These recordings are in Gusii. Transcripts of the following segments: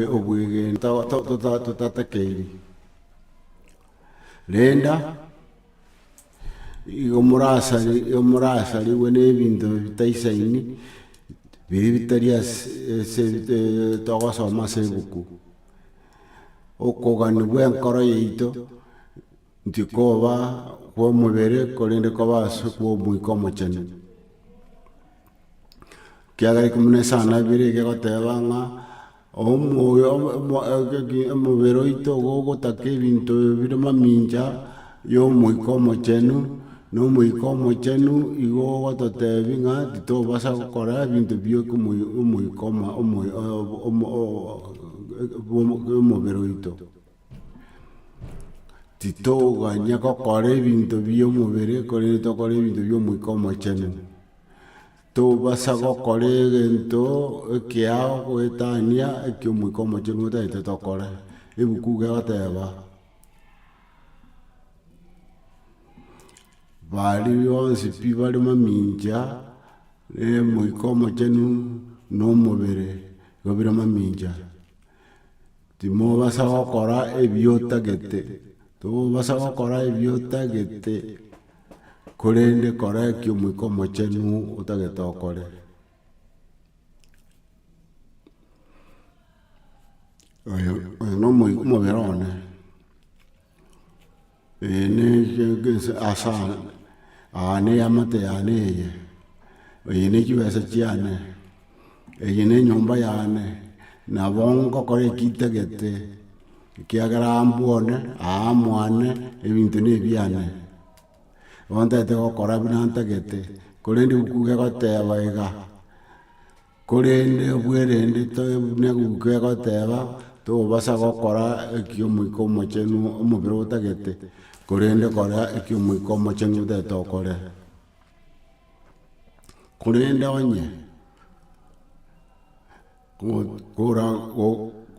obwegenwa totatakeirie. Renda igo morasarigwe ne ebinto bitaisaini, biria bitari ase togosoma ase ebuku. Okoganigwa enkoro yaito. Tikoba kw'omobere, korende koba ase kw'Omoika Omochenu. Ekiagera ekio buna esano abere egekoteba ng'a omoyo omobere oito igo ogotaka ebinto bire mamincha ya Omoika Omochenu, na Omoika Omochenu igo ogototebi ng'a titobasa gokora ebinto bia Omoika Omo- omo- omo- o- o- o- omobere oito. Titoganya gokora ebinto bi'omobere, korende tokore ebinto bi'Omoika Omochenu. Tobasa gokora egento ekeao goetania ekio Omoika Omochenu otagete tokore, ebuku iga egoteba, baria bonsi pi bare mamincha Omoika Omochenu nomobere igo bire mamincha. Timobasa gokora ebiotagete, timobasa gokora ebiotagete, korende kora ekio Omoika Omochenu otagete okore. Oyo oyo nomoi omobere one. Aya ne eamate yane eye, eye ne chibesa chiane, eye ne enyomba yane, nabo ngokora eki ntagete, ekiagera aa mbwone, aa mwane, ebinto ne ebiane. Bono ntagete gokora buna ntagete, korende ebuku gegoteba iga. Korende obwerende tobe buna eguka egoteba, Tobasa gokora ekia Omoika Omochenu omobere otagete, korende kora ekia Omoika Omochenu otagete okore. Korende onye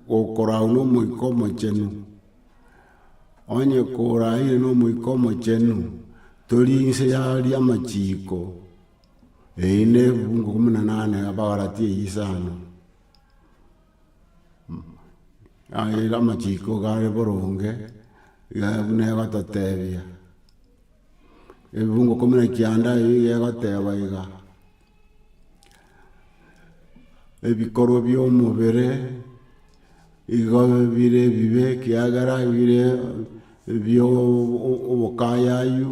gokorau na Omoika Omochenu, onye koraire na Omoika Omochenu, tori inse ya aria amachiko. Eyi nebibugu ikomi na nane Abagalatia eyio isano aye amachiko gare boronge iga buna egototebia ebibugu ikomi na kianda ebi egoteba iga ebikorwa bia omobere igo bire ebibe ekiagera bire ebio obokayayu.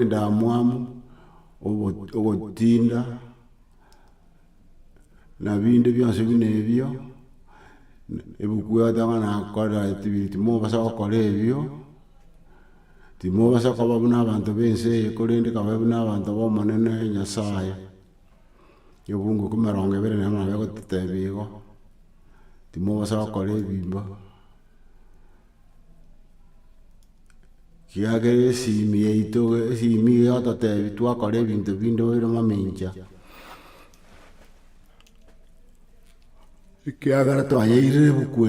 endamwamu, ogotinda, na binde bionsi buna ebio, ebuku egoteba ng'a nakorera etebiri timobasa gokora ebio, timobasa koba buna abanto ba ense eye korende kabae buna abanto ba omonene nyasaye. Egebungu ekeria emerongo ebere nero nabo egototebia igo, timobasa gokora ebibe. Kiagera esimi yaito esimi eye egototebia twakora ebinto binde obeire omomincha, ekiagera twayeirire ebuku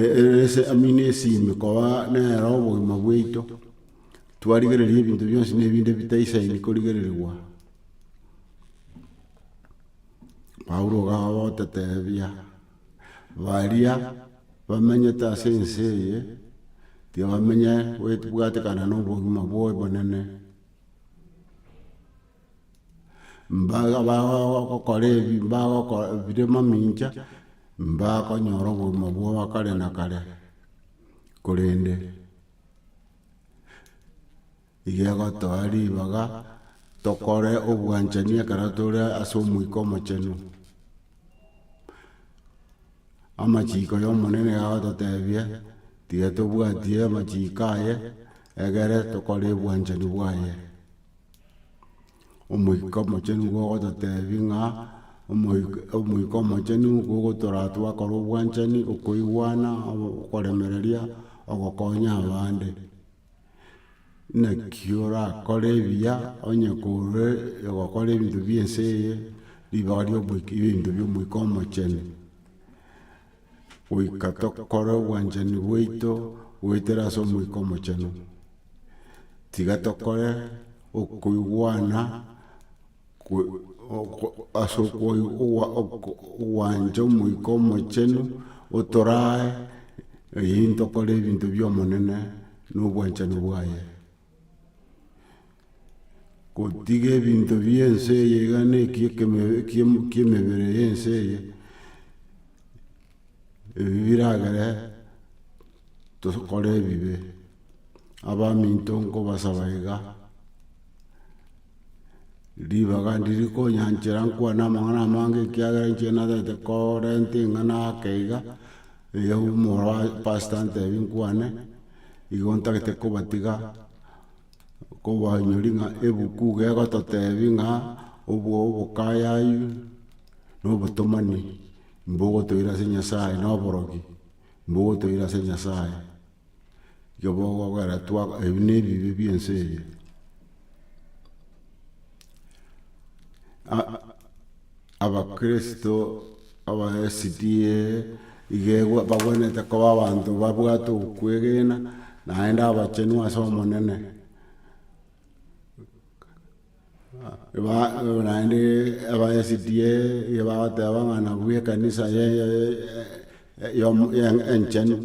ese amina esimi koba nere obogima bwaito, twarigereria ebinto bionsi na ebinde bitaisaini korigererigwa. Paulo iga agototebia. Baria bamenyete ase ense eye, tiga bamenye bwatekana na obogima bwaye obonene. Mbaga bagokora ebi bagokora bire mamincha, mbakonyora obogima bwa kare na kare, korende. Igegotoa ribaga tokore obwanchani ekero tore ase Omoika Omochenu. Amachiko y'Omonene iga agototebia, tiga tobwatie amachiko aye, egere tokore obwanchani bwaye. Omoika Omochenu nigo ogototebia ng'a, Omoika- Omoika Omochenu nigo ogotoraa twakora obwanchani, okoigwana, okoremereria, ogokonya abande. Naki orakore ebiya onye korwa ogokora ebinto bie ense eye, ribaga ria oboik ria ebinto bia omoika omochenu, goika tokore obwanchani bwaito goetera ase omoika omochenu, tiga tokore okoigwana. ase ogwancha Omoika Omochenu, otorae eyio ntokore ebinto bi'Omonene na obwanchani bwaye. Gotiga ebinto bi'ense eye iga na eki'emebere y'ense eye, ebi biragere tokore ebibe. Abaminto nkobasaba iga. ribaga ndiri konyanchera nkwane amang'ana amange ekiagera inche natete korenta eng'ana ake iga, iga omoro wa pastor antebi nkwane, igo ntagete kobatiga, kobanyori ng'a ebuku iga egototebi ng'a obwo obokayayu, na obotomani, mbogotoira ase nyasaye na oborogi, mbogotoira ase nyasaye. Ekebogogera twa ebi ne ebibe bie ense eye. Abakristo aba SDA iga egwe bagwenerete koba abanto babwate okwegena, naende abachenu ase Omonene. naende abaesidie iga bagoteba ng'a nabwo ekanisa enchenu,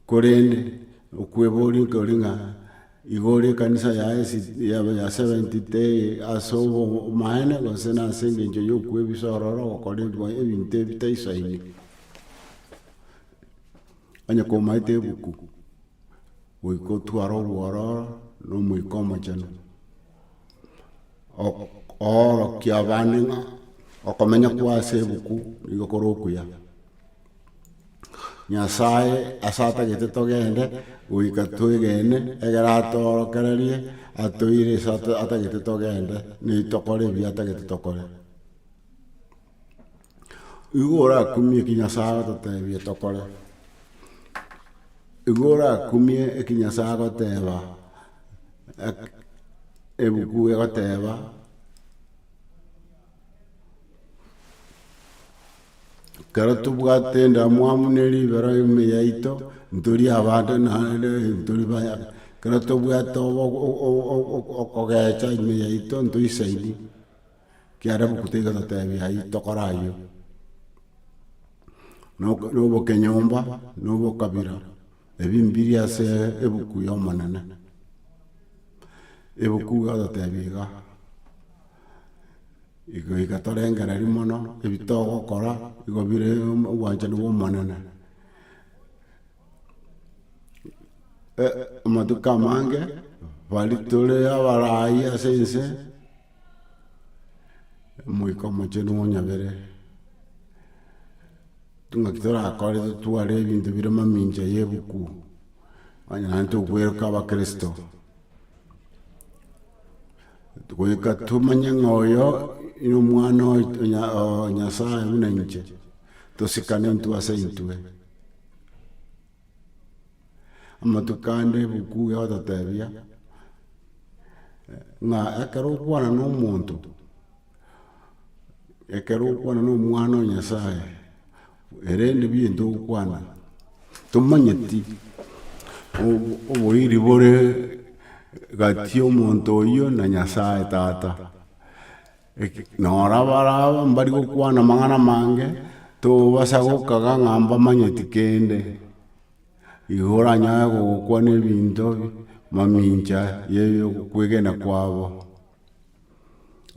korende okweboria kori ng'a igo ore ekanisa ya seventy tee ase obomaene gose nase engencho ya okwebisa ororo ogokora ebinto ebitaisaini, onye komaete ebuku. Goika otware obwororo na Omoika Omochenu, oorokie abande ng'a okomenya kwa ase ebuku nigo kore okuya. Nyasae ase atagete togende, goika twegene egere atoorokererie, atoire ase atagete togende, na tokore ebi atagete tokore. Igo orakumie eki Nyasae agototebia tokore, igo orakumie eki Nyasae agoteba, ebuku egoteba, ekero tobwate endamwamu ne ribero ime yaito, ntori abande naende ntori baya, ekero tobwate okogecha ime yaito ntoisaini. Ekiagera ebuku teiga totebi ayio tokore ayio. Na obokenyomba na obokabira ebio mbiri ase ebuku ya omonene. Ebuku egototebi iga, igo iga torengereria mono ebi togokora nigo bire obwanchani bwa omonene. Amatuko amange baria tore abaraai ase ense. Omoika omoche nigo onyabere, ng'aki torakore totware ebinto bire mamincha ya ebuku, onye naende togweroka abakristo, goika tomanye ng'a oyo na omwana oye nyasaye buna inche, tosikane intwe ase intwe. Amatuko ande ebuku egototebia, ng'a ekero okwana na omonto, ekero okwana na omwana o nyasaye, erende biire ntogokwana, tomanyeti oboiri bore gati y'omonto oyio na nyasaye tata. Nora baraba mbari gokwana amang'ana amange, tobasa gokaga ng'a mbamanyeti kende. Igo oranyare gokwana ebinto mamincha ye kwegena kwabo.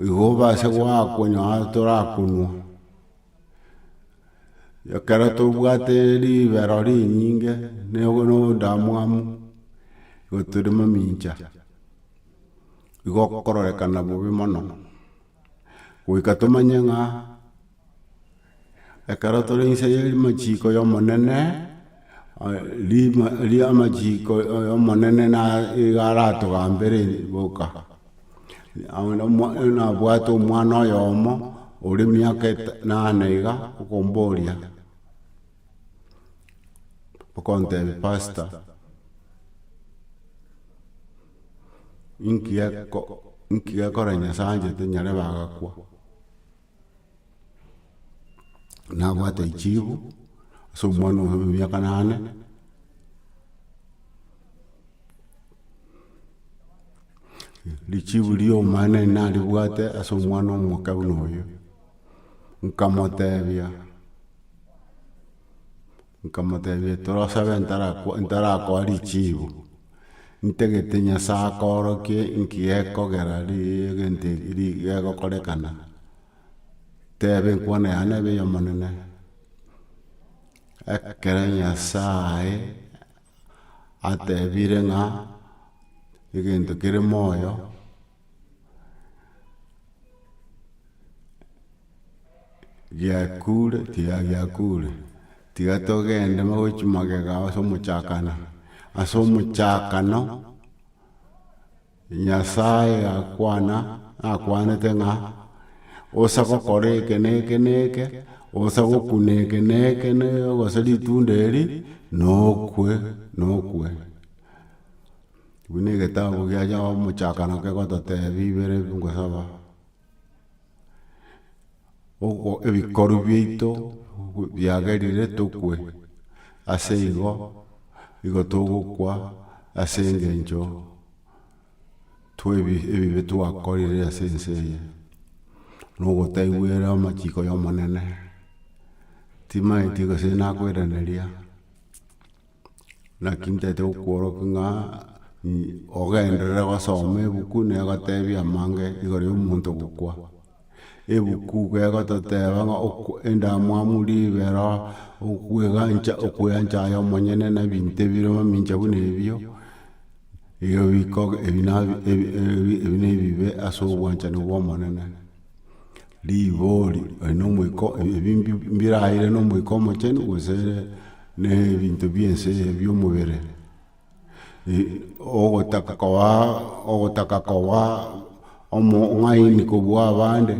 Igo obase gwakonyaa torakonwa. Ekero tobwate ribero rinyinge, ne- no- no- ndamwamu, igo tore mamincha. igokororekana bobe mono, goika tomanye ng'a ekero tore inse ya amachiko ya omonene, rima amachiko ya omonene nigo aratogambere boka. nabwate omwana oyomo ore emiaka enane iga, okomboria, okontebia pastor. inki geko inki gekora Nyasae anchete nyare bagakwa, nabwate echibo ase omwana oye bwa emiaka nane, richibu riomana nari naribwate ase omwana omoke buna oyo, nkamotebia. Nkamotebia, Torosabe ntarakoa richiibo, ntagete Nyasae akoorokie nki gekogera egento eki gegokorekana, tebe enkwana yane nebe ey'Omonene. Ekero Nyasae atebire ng'a egento kere moyo. giakure tiga giakure, tiga togende mobe chimagega ase omochakano, ase omochakano, Nyasae gakwana, akwanete ng'a osa gokora eke na eke na eke, osa gokuna eke na eke na eke gose ritunda eri, nokwe nokwe. Buna egetabu kia Omochakano kegototebia ibere ngosaba, ebikoru biaito biagerire tokwe, ase igo, nigo togokwa ase engencho twa ebibe twakorire ase ense eye, na ogotaigwera amachiko y'Omonene, timanyeti gose nakoiraneria. Naki ntagete gokworokia ng'a ogenderere gosoma ebuku na egotebia amange igoro ya omonto gokwa. Ebuku iga egototeba ng'a endamwamu ribero, okwegancha okweancha aye omonyene na ebinto ebire mamincha buna ebio, ebio biko ebi na ebi na ebibe ase obwanchani bwa Omonene. Rigori aye na omoika o ebi mbi mbiraeire na omoika omochenu gose na ebinto bia ense eye bia omobere ogotaka kobaa ogotaka kobaa omo ng'aini kobua abande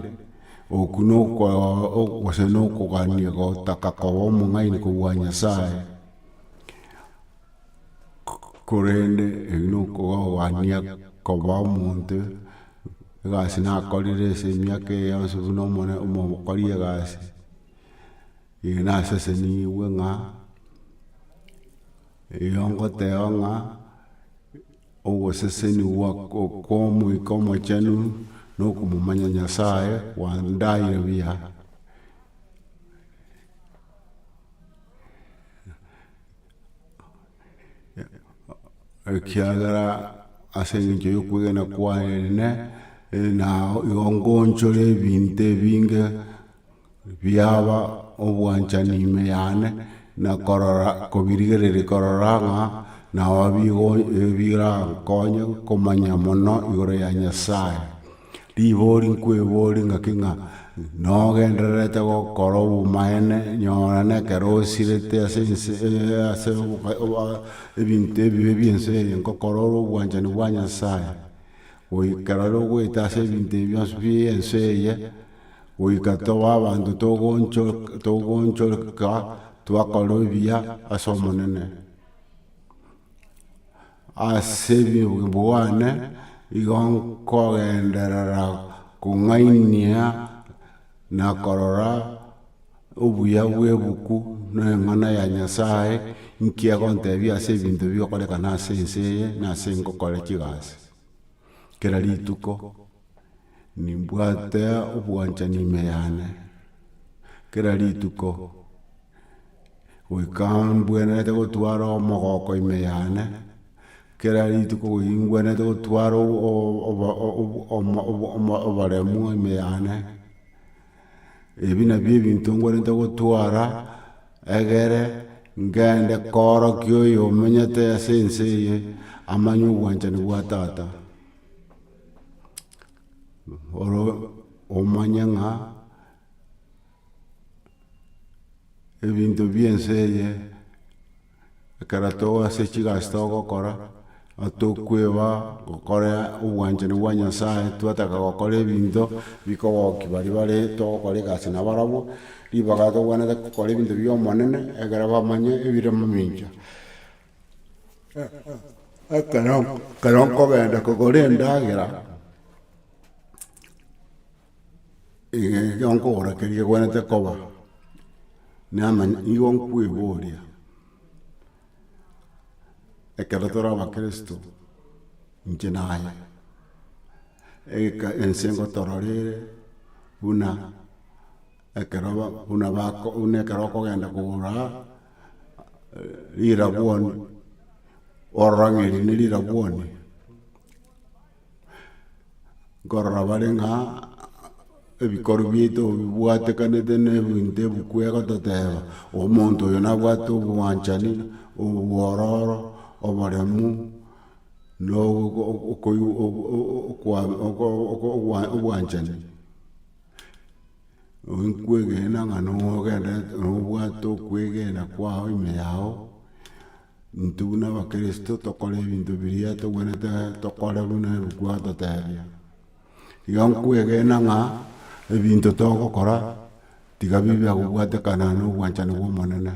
okwo na oko gose na okogania gotaka koba omong'aini kobua Nyasaye korende ebi na okogania koba omonto egasi nakorire ase emiaka eye yonsi buna omone omokori egasi, eye nasesenigwe ng'a erio ngoteba ng'a ogosesenigwa kwa omoika omochenu na okomomanya Nyasaye kwandaeire buya. ekiagera ase engencho yokwegena kwaye ene, na igo ngoonchore ebinto ebinge biaba obwanchani ime yane, na korora kobirigereria korora ng'a nao bigo birankonye komanya mono igoro ya Nyasaye. Ribori nkwebori ng'aki ng'a nogendererete gokora obomaene nyora nekero osirete ase ense ase ebinto ebibe bi'ense eye ngokora ore obwanchani bwa Nyasaye goika rero ogoeta ase ebinto ebi bionsi bi'ense eye goika toba abanto togoonchoka twakora ebiya ase Omonene. Ase obobe bwane nigo nkogenderera kong'ainia na korora obuya bw'ebuku na eng'ana ya Nyasae, nki egontebia ase ebinto bigokorekana ase ense eye na ase ngokore chigasi kera rituko. Nimbwate obwanchani ime yane, kera rituko, goika mbwenerete gotwara omogoko ime yane, kera rituko goika mbwenerete gotwara oboremu ime yane, ebi nabio ebinto mbwenerete gotwara, egere ngende korokia oyo omenyete ase ense eye, amanye obwanchani bwa tata. oro omanye ng'a ebinto bie ense eye ekero toba ase chigasi togokora, atokweba gokora obwanchani bwa Nyasaye, twataka gokora ebinto bikogoki baria bare togokora egasi na barabwo, ribaga tokwenerete gokora ebinto bia Omonene, ekero bamanye ebire momincha. ekero ekero nkogenda kogora endagera, ekero nkogora keria kegwenerete koba, namanya nigo nkoeboria, ekero tore abakristo inche naye, eke ense ngotororire buna ekero ba buna bako buna ekero okogenda kogora. rirabwoni, orora ng'a eri nerirabwoni, nkorora bare ng'a ebikoro biaito bibwatekanete na ebinto ebi kwega toteba omonto oyo nabwate obwanchani, obwororo, oboremu, na obwanchani. Kwegena ng'a nogenda nobwate okwegena kwao ime yao, intwe buna abakirisito tokore ebinto biria tobwenerete tokore buna ebuku egototebia. Igo nkwegena ng'a ebinto togokora tiga bibe bia kobwatekana nobwanchani bw'Omonene.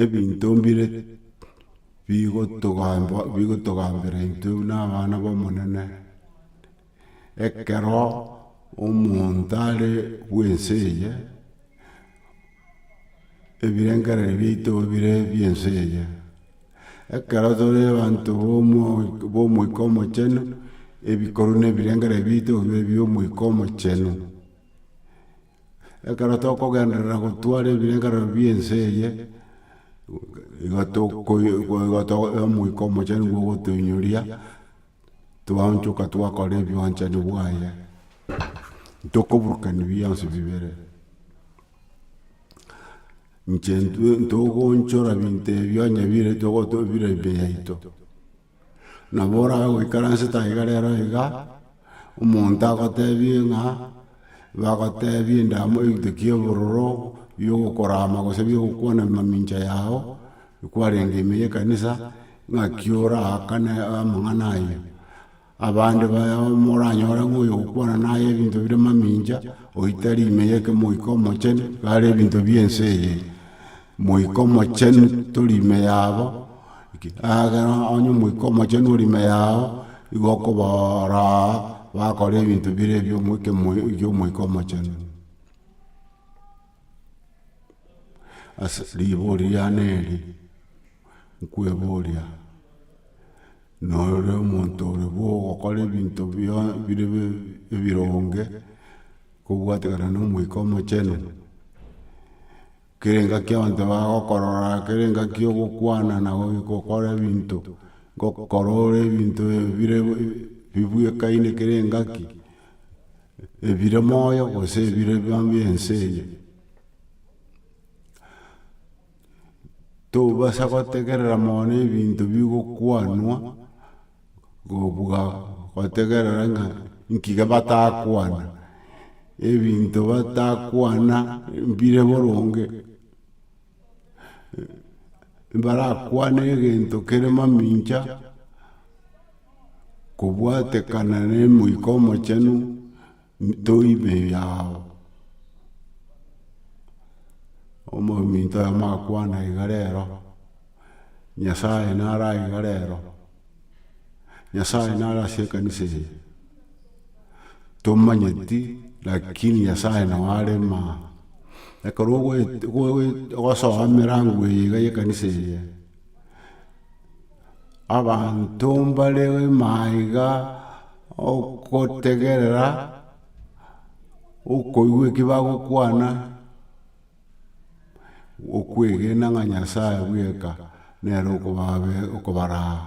ebinto mbire bigotogamba bigotogambera intwe buna abana b'omonene, ekero omonto are bw'ense eye, ebirengereri biaito bire ebi'ense eye. Ekero tore abanto b'omo b'omoika omochenu, ebikorwa na ebirengereri biaito bibe ebi'omoika omochenu. Ekero tokogenderera gotwara ebirengerero bie ense eye, igo toko omoika omochenu nigo ogotoinyoria, twaonchoka twakora ebwanchani bwaye, ntokoburukania bionsi bibere. Inche intwe ntogoonchora ebinto ebio onye bire bire emeyaito. Nabo oragoikaransete aye iga rero iga, omonto agotebie ng'a, bagotebie endamo egento kia obororo, biogokorama gose biogokwana mamincha yao, kwarenge ime ya ekanisa, ng'aki oraakane amang'ana ayio. Abande baye aba moranyore ng'a oyo ogokwana naye ebinto bire mamincha, oitari ime ya eke Moika Omochenu, iga are ebinto bie ense eye. Moika Omochenu tori ime yabo. Ekero onye Omoika Omochenu ore ime yao, nigo okobora bakore ebinto bire ebi'Omoika Omochenu. Ase riborio riane eri, nkweboria, nore omonto ore bo ogokora ebinto bire ebironge kobwatekana n'Omoika Omochenu? Kere ngaki abanto bagokorora, kere ngaki ogokwana na gokora ebinto, gokora ore ebinto bire bibwekaine kere engaki, ebire moyo gose ebire bionsi ense eye. Tobasa gotegerera mono ebinto bigokwanwa. kobuga gotegerera ng'a nki gebatakwana, ebinto batakwana mbire boronge, mbarakwane egento kere mamincha, kobwatekana nemoika omochenu, Toibe yao, omominto oye amakwana iga rero, Nyasaye naro aiga rero, Nyasaye naro ase ekanisa eye, tomanyeti lakini Nyasaye nao are maa, ekero ogosoa emerango eye iga y'ekanisa eye. Abanto mbare maiga ogotegerera okoigwa eki bagokwana, okwegena ng'a Nyasae bweka nere okobaraa.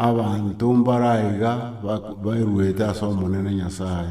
Abanto mbare aiga baruete as'Omonene Nyasae.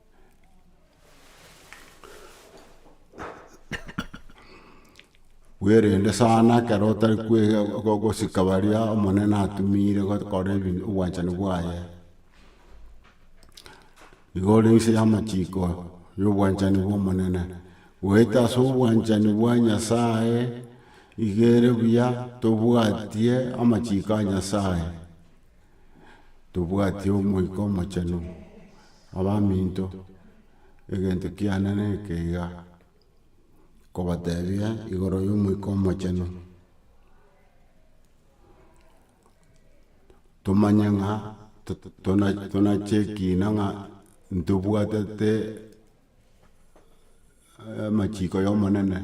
bwerende sana ekero otari gosika baria omonene atumire gokora ebinto obwanchani bwaye. Nigo ore inse ya amachiko ya obwanchani bwa omonene. Goeta ase obwanchani bwa nyasaye igo ere buya tobwatie amachiko a nyasaye. tobwati Omoika Omochenu, abaminto, egento kiane neke iga, nkobatebia igoro ya Omoika Omochenu, tomanye ng'a tonache ekina ng'a ntobwatete. Amachiko y'Omonene,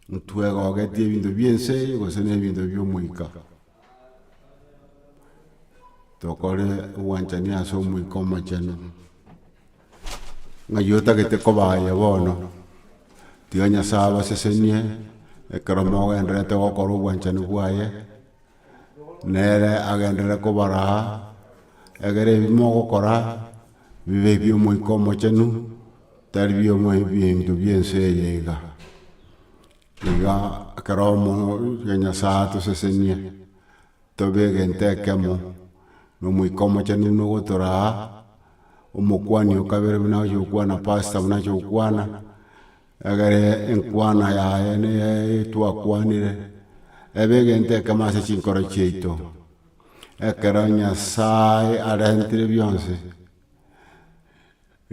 ntwegogeti ebinto bie ense eye gose ne ebinto bie Omoika. Tokore obwanchani ase Omoika Omochenu, ng'ai otagete koba aye bono, tiga Nyasae abasesenie ekero mogendererete gokora obwanchani bwaye. nere agenderere kobara egere ebi mogokora bibe ebi'Omoika Omochenu, tari bi'ebinto bi'ense eye iga. Iga ekero omonto Nyasae atosesenie tobe egento ekemo, na Omoika Omochenu buna ogotora omokuani o kabere buna agochia gokwana pastor buna agochia gokwana. Egere enkwana yaye neye twakwanire, ebe egento ekemo ase chinkoro chiaito, ekero Nyasae arentire bionsi,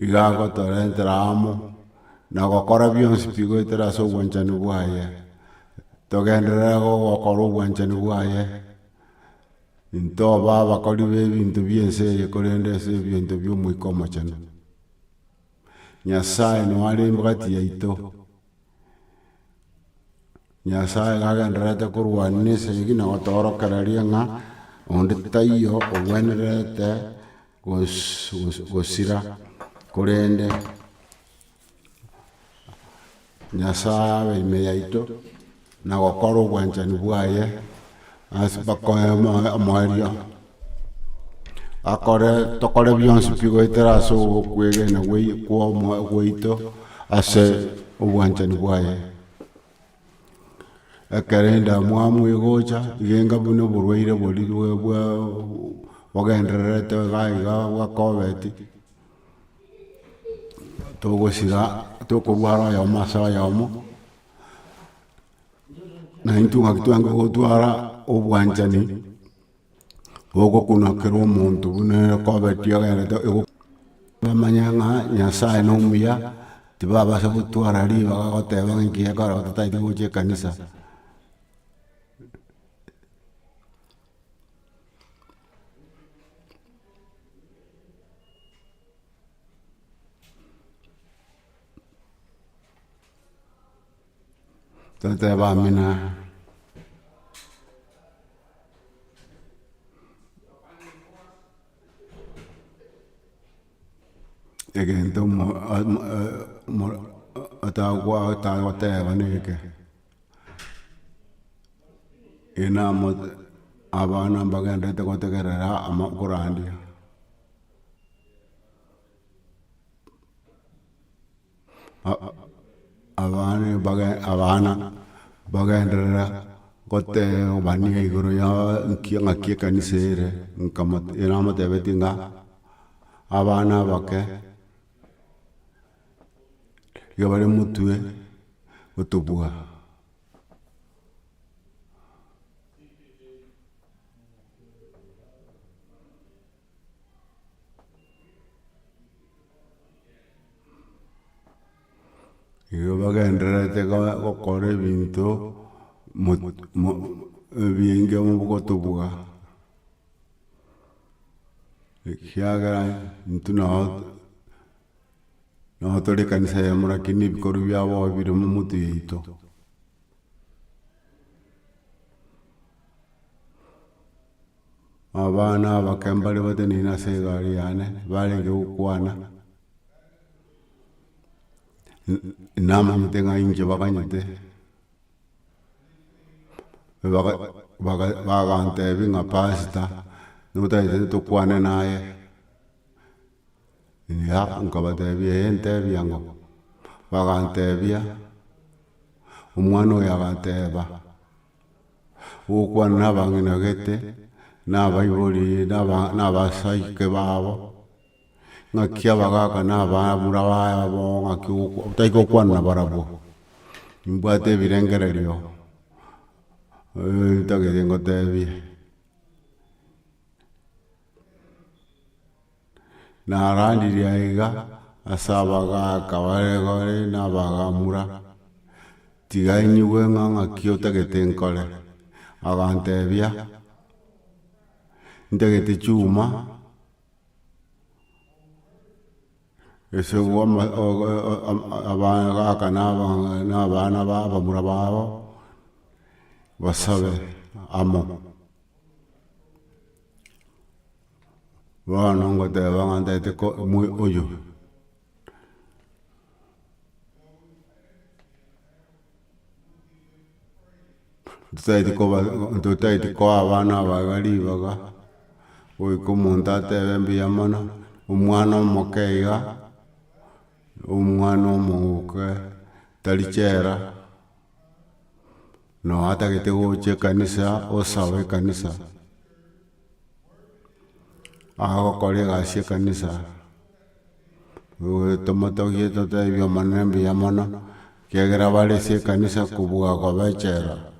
igo agotorentera amo, na gokora bionsi pi goetera ase obwanchani bwaye, togenderere gokora obwanchani bwaye, ntoba abakori b'ebinto bie ense eye korende ase ebinto bia Omoika Omochenu. Nyasae noare embagati yaito, Nyasae iga agendererete korwanera ense eye na gotoorokereria ng'a onde taiyo ogwenerete gosira, korende. Nyasae abe ime yaito, na gokora obwanchani bwaye ase bakoe omoerio, akore tokore bionsi pi goetera ase okwegena gwaito ase obwanchani bwaye. Ekero endamwamu egocha, iga buna oborwaire boria bwa bogendererete iga iga bwa Covid, togosira tokorwara oyomo ase oyomo, naintwe ngaki twange gotwara obwanchani, ogokunwa kera omonto buna ere kobeti ogenderete igo bamanye ng'a Nyasaye nomuya, tibabasa gotwara ribaga goteba ng'a enki gekogera gose tataeti gocha ekanisa. Tata yabamina egento otagoteeba neke. abana mbagenderete gotegerera ama okorandia. abana mbage abana mbagenderera gotebania igoro ya nki ng'aki ekanisa ere, nkamotebia namotebetie ng'a abana abake. iga bare omotwe otobua. Igo bagendererete go- gokora ebinto mot- mo- ebienge bo- bogotobua, ekiagera intwe nabo Nao tore ekanisa yamo lakini ebikorwa biabo aye bire momotu yaito. Abana abake mbare bateneine ase egari yane barenge gokwana namanyete ng'a inche baganyete bagantebia ng'a pastor notagete tokwane naye. Eeh, nkabatebia eeh ntebia ng'o, bagantebia, omwana oyo aganteba, ogokwana na abang'ina gete, na abaibori na abasaike babo, ng'aki abagaka na abamura babo ng'aki otari gokwana na barabwo, nimbwate ebirengererio ntagete ngotebie. Narandirie aiga ase abagaaka bare bare na abagamura, tiga inyigwe ng'a ng'aki otagete nkore. Agantebia, ntagete chiuma ase obwo abagaaka na abana ba abamura babo basabe amo. Bono ngoteba ng'a ntaete ko mwe oyo totaeti koba totaeti koa abana aba iga ribaga, goika omonto atebe mbuya mono, omwana omoke iga, omwana omoke tari chela. Noatagete gocha ekanisa osabe ekanisa, agokora egasi ekanisa, tomotogie totebi ebioma ne mbuya mono, kiagera bare ase ekanisa kobua kobechera.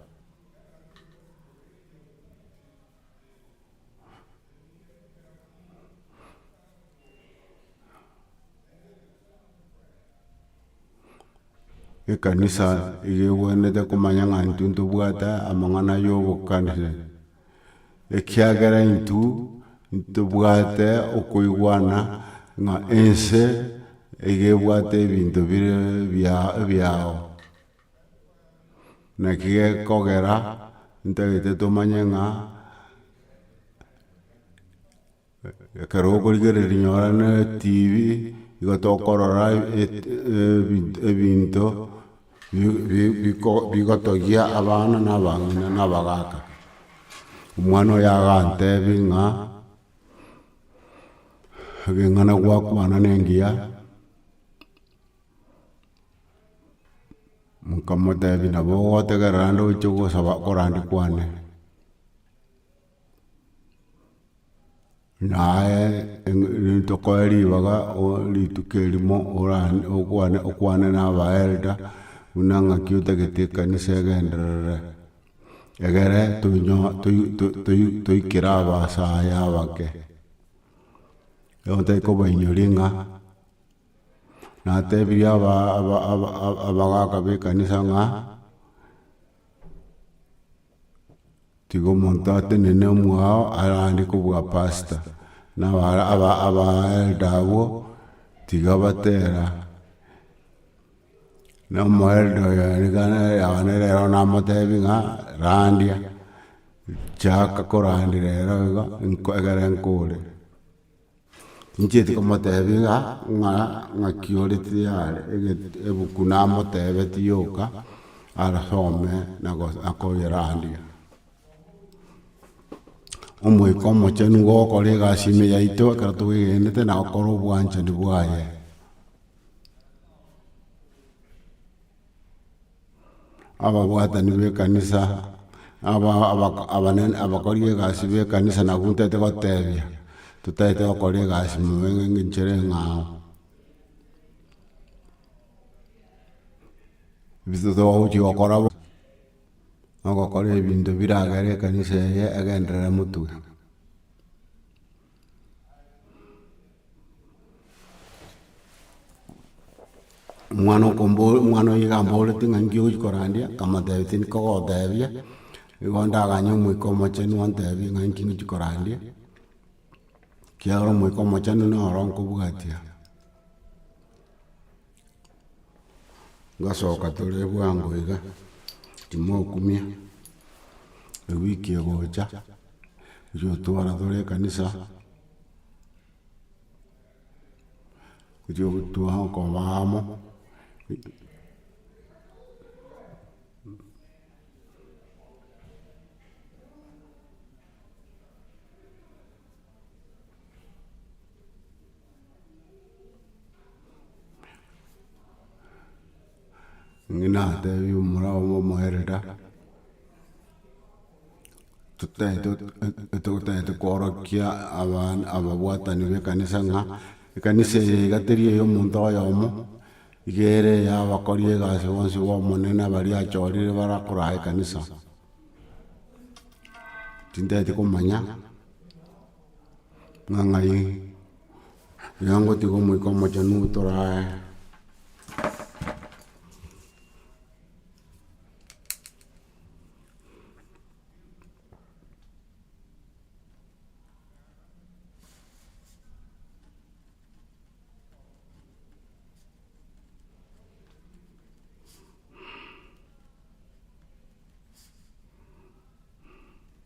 Ekanisa iga ebwenerete komanya ng'a intwe ntobwate amang'ana ya obokanire, ekiagera intwe ntobwate okoigwana ng'a ense iga ebwate ebinto bire ebiao. Naki gekogera ntagete tomanye ng'a. Ekero okorigereria rinyora na etv, nigo tokorora ebinto bigotogia abana na abang'ina na abagaka. Omwana oye agantebi ng'a ekeng'ana gwakwana ne engiya, nkamotebi nabo ogotegerera nde oche gosaba korande kwane. Naye nintokoe ribaga rituko erimo okwane na abaelda buna ng'aki otagete ekanisa egenderere. Egere toikere abasae abake, nigo ntoe kobainyori ng'a natebirie abagaka b'ekanisa ng'a. Tiga omonto atenene omwao arande kobua pastor, na aba aba elder abwo tiga batera, na omo elder oyo ere gana yao nere ero namotebi ng'a randia, chaka korandera ero iga, egere nkore. Ninchieti komoteebia ng'a, ng'a, ng'aki ore tayari egete ebuku namoteebeti yoka arasome na go na koyerandia. Omoika omochenu nigo ogokora egasi ime yaito ekero twegenete na gokora obwanchani bwaye. ababwatani b'ekanisa, abakori b'egasi b'ekanisa nabo ntagete gotebia, totagete gokora egasi mono ng'a inche ere eng'ao. Ebinto togochia gokora bo, nogokora ebinto biragere ekanisa eye egenderere motwe. omwana okombora, omwana oye gamborete ng'a nki ogochia korandia, nkamotebia tindi kogotebia, nigo ndaganye omoika omochenu ontebie ng'a nki ngochia korandia, ekiagera omoika omochenu noro nkobwatia. Ngasoka tore bwango iga, timokumia, ewiki egocha, gochia otwara tore ekanisa, gochia gotwara okoba amo, Ng'ina atebie omorao ng'a omoerera, totaete totaete koorokia abana ababwatani b'ekanisa ng'a ekanisa eye iga teri eye omonto oyomo, iga ere eya abakori egasi bonsi ba omonene baria achorire barakoraa ekanisa, tintaeti komanya. Ng'a ng'ai iga ngotiga omoika omochenu torae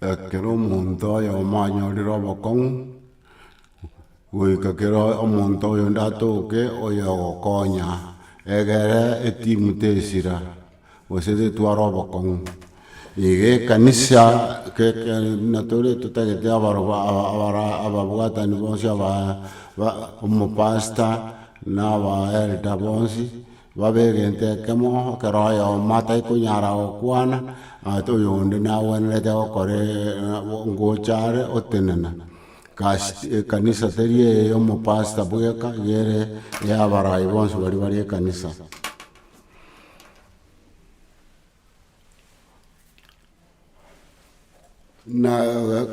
Ekero omonto oyomo anyorire obokong'u, goika kero omonto oyonde atoke oyo ogokonya, egere etimu tesira. Gose ritware obokong'u. Iga ekanisa natore totagete ababwatani bonsi omopasta na aba elder bonsi babe egento ekemo ekero oyomo atari konyara gokwana oyonde nagwenerete gokora ngocha are otenena ekanisa teri eye yomopasta bweka iga ere ya abarai bonsi baria bare ekanisa. na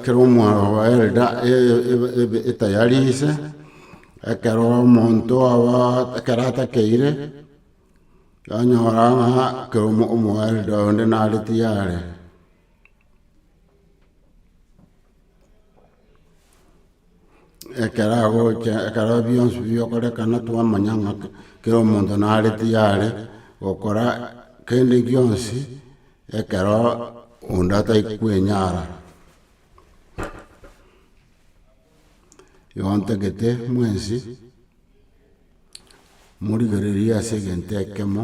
kera omwana oba ere da- e- e- ebe- etayari ise, ekero omonto aba ekero atakeire, onyora ng'a kera omo- omoelda onde nare tiyare. Ekero agocha ekero bionsi bigokorekana twamanya ng'a kera omonto nare tiyare gokora kende gionsi ekero onde atari kwenyara. Igo ntagete mwensi morigereria ase egento ekemo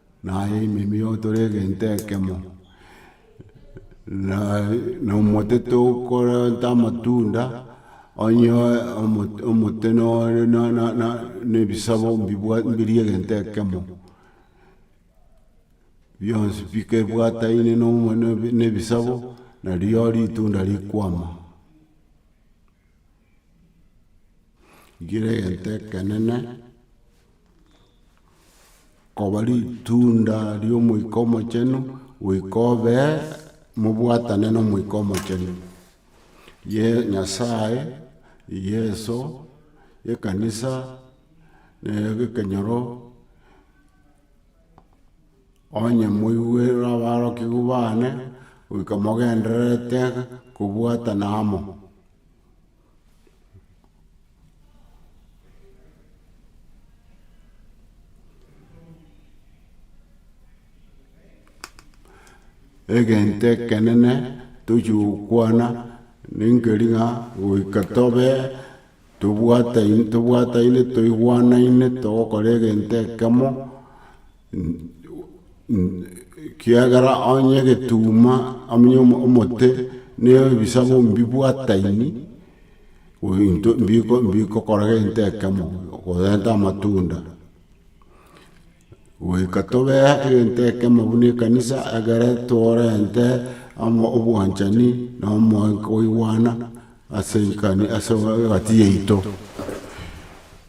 Naye ime nigo tore egento ekemo, na omote tokorenta amatunda, onye omote nore ne ebisabo mbiri egento ekemo, bionsi bikebwataine ne ebisabo, nario ritunda rikwama. Rigira egento ekenene, koba ritunda ria Omoika Omochenu, goika obe mobwatane na Omoika Omochenu. Ye- Nyasae, Yeso, ekanisa, ekenyoro, onye moigwe abarokigwa bane, goika mogendererete kobwatana amo. egento ekenene tochia gokwana ninkeri ng'a goika tobe tobwataine toigwanaine togokora egento ekemo. Ekiagera onye egetuma onye omote ne ebisaku mbibwataini, into mbikokora gento ekemo korenta amatunda, goika tobee egento ekemo buna ekanisa egere torente obwanchani na omoika okoigwana ase egati yaito.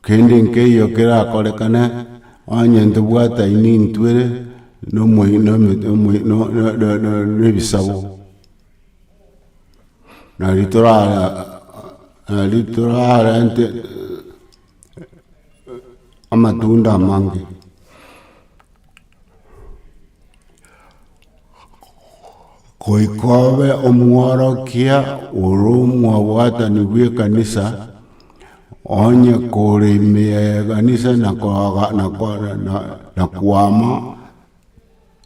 Kende nkeiyo kerakorekane, onye ntobwate aini ntwere nomoi- nome- nomoi- no- no- no- no- nebisabo. Nari torara nari torarente amatunda amange. Goika obe omworokia ore omwabwatani bw'ekanisa, onye kore ime y'ekanisa na koaga- na ko- na- na- na kwama,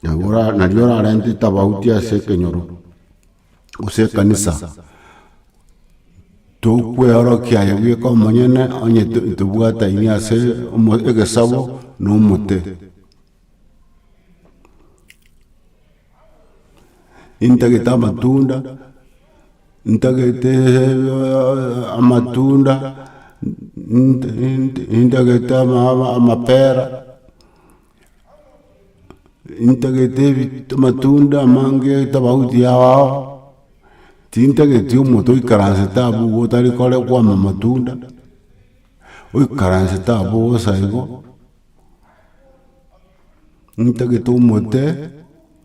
nabo ora- nario orarentete abauti ase ekenyoro. gose ekanisa, tokweorokia aye bweka omonyene onye tobwataini ase egesabo na omote. Intagete amatunda, intagete amatunda, intagete amapera. Intagete amatunda amange tofauti yao tintageti omonto oikaransete abwo iga otari kore kwama amatunda oikaransete abwo bosa igo intagete omote.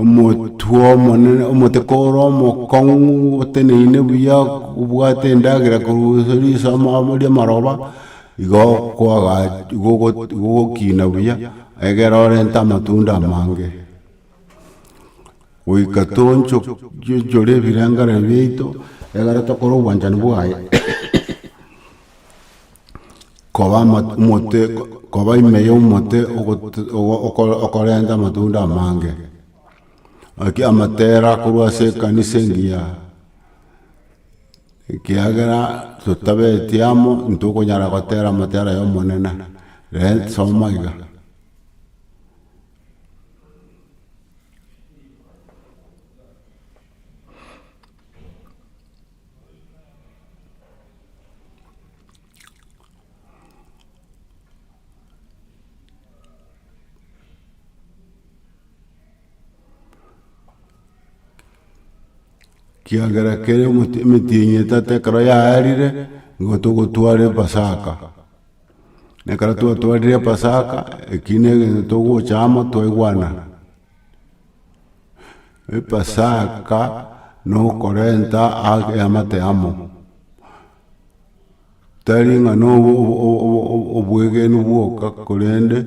Omotwe omonene, omoteka ore omokong'u, oteneine buya, obwate endagera korwa ase risama ama ri'amaroba, igo kwaga igo ogo- igo ogokina buya, egere orente amatunda amange. Goika toncho chionchore ebirengare biaito, egere tokore obwanchani bwaye. koba omote koba ime ya omote okorenta amatunda amange. Naki amatera akorwa ase ekanisa engiya, ekiagera totabeti amo ntokonyara gotera amatera ya omonene, rent soma iga. Kiagera kere emoti emetienyi etatu ekero yaarire, nigo togotwara epasaka. Nekero twatwarire epasaka, ekio na egento togocha amo twaigwana. Epasaka nokorenta ake amate amo. Tari ng'a no o- o- o- o- o- obwegenu bwoka korende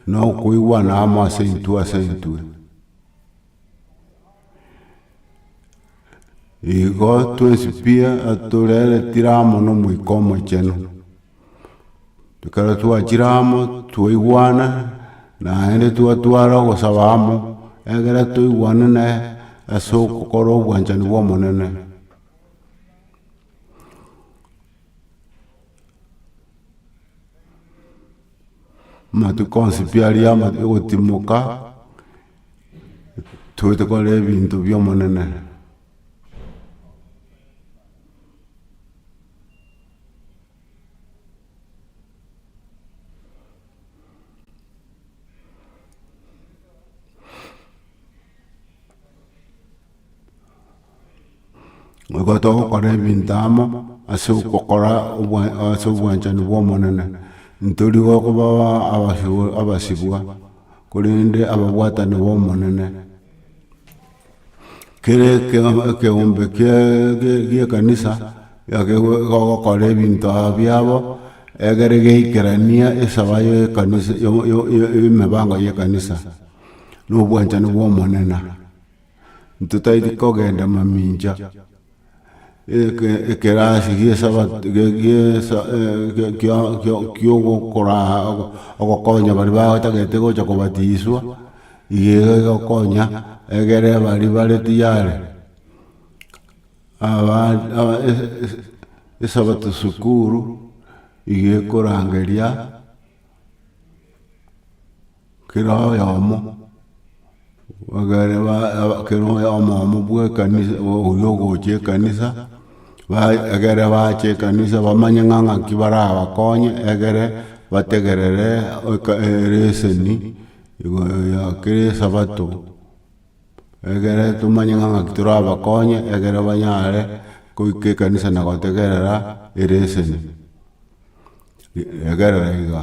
nokoigwana amo ase intwe ase intwe. Igo twesibie atorere chiramo na omoika omochenu, ekero twachiraa chiramo twaigwana naende twatwara ogosaba amo egere twaigwane na ase ogokora obwanchani bwa omonene. Amatuko onsi pi aria amatwe gotimoka. Toete kora ebinto bi'Omonene. Nigo togokora ebinto amo ase ogokora ase obwanchani bwa Omonene, ntori gokoba abasibwa, korende ababwatani ba Omonene. Kere ekeombe gie ekanisa egokora ebinto biabo egere geikeranie esaba ye ekanisa, emebango ye ekanisa, na obwanchani bwa Omonene. Ntotaeti kogenda mamincha, ekerasi gie sabato kia ogokoraa ogokonya baria batagete gocha kobatiswa, iga iga egokonya egere baria bare tiyari esabato sukuru iga ekorangeria. Kera oyomo, kera oyomo omo bwa ekanisa oyio ogocha ekanisa, egere bache ekanisa bamanye ng'a ng'aki barabakonye egere bategerere ereseni ya kera esabato, egere tomanye ng'a ng'aki torabakonye egere banyare goika ekanisa na gotegerera ereseni, egerero iga.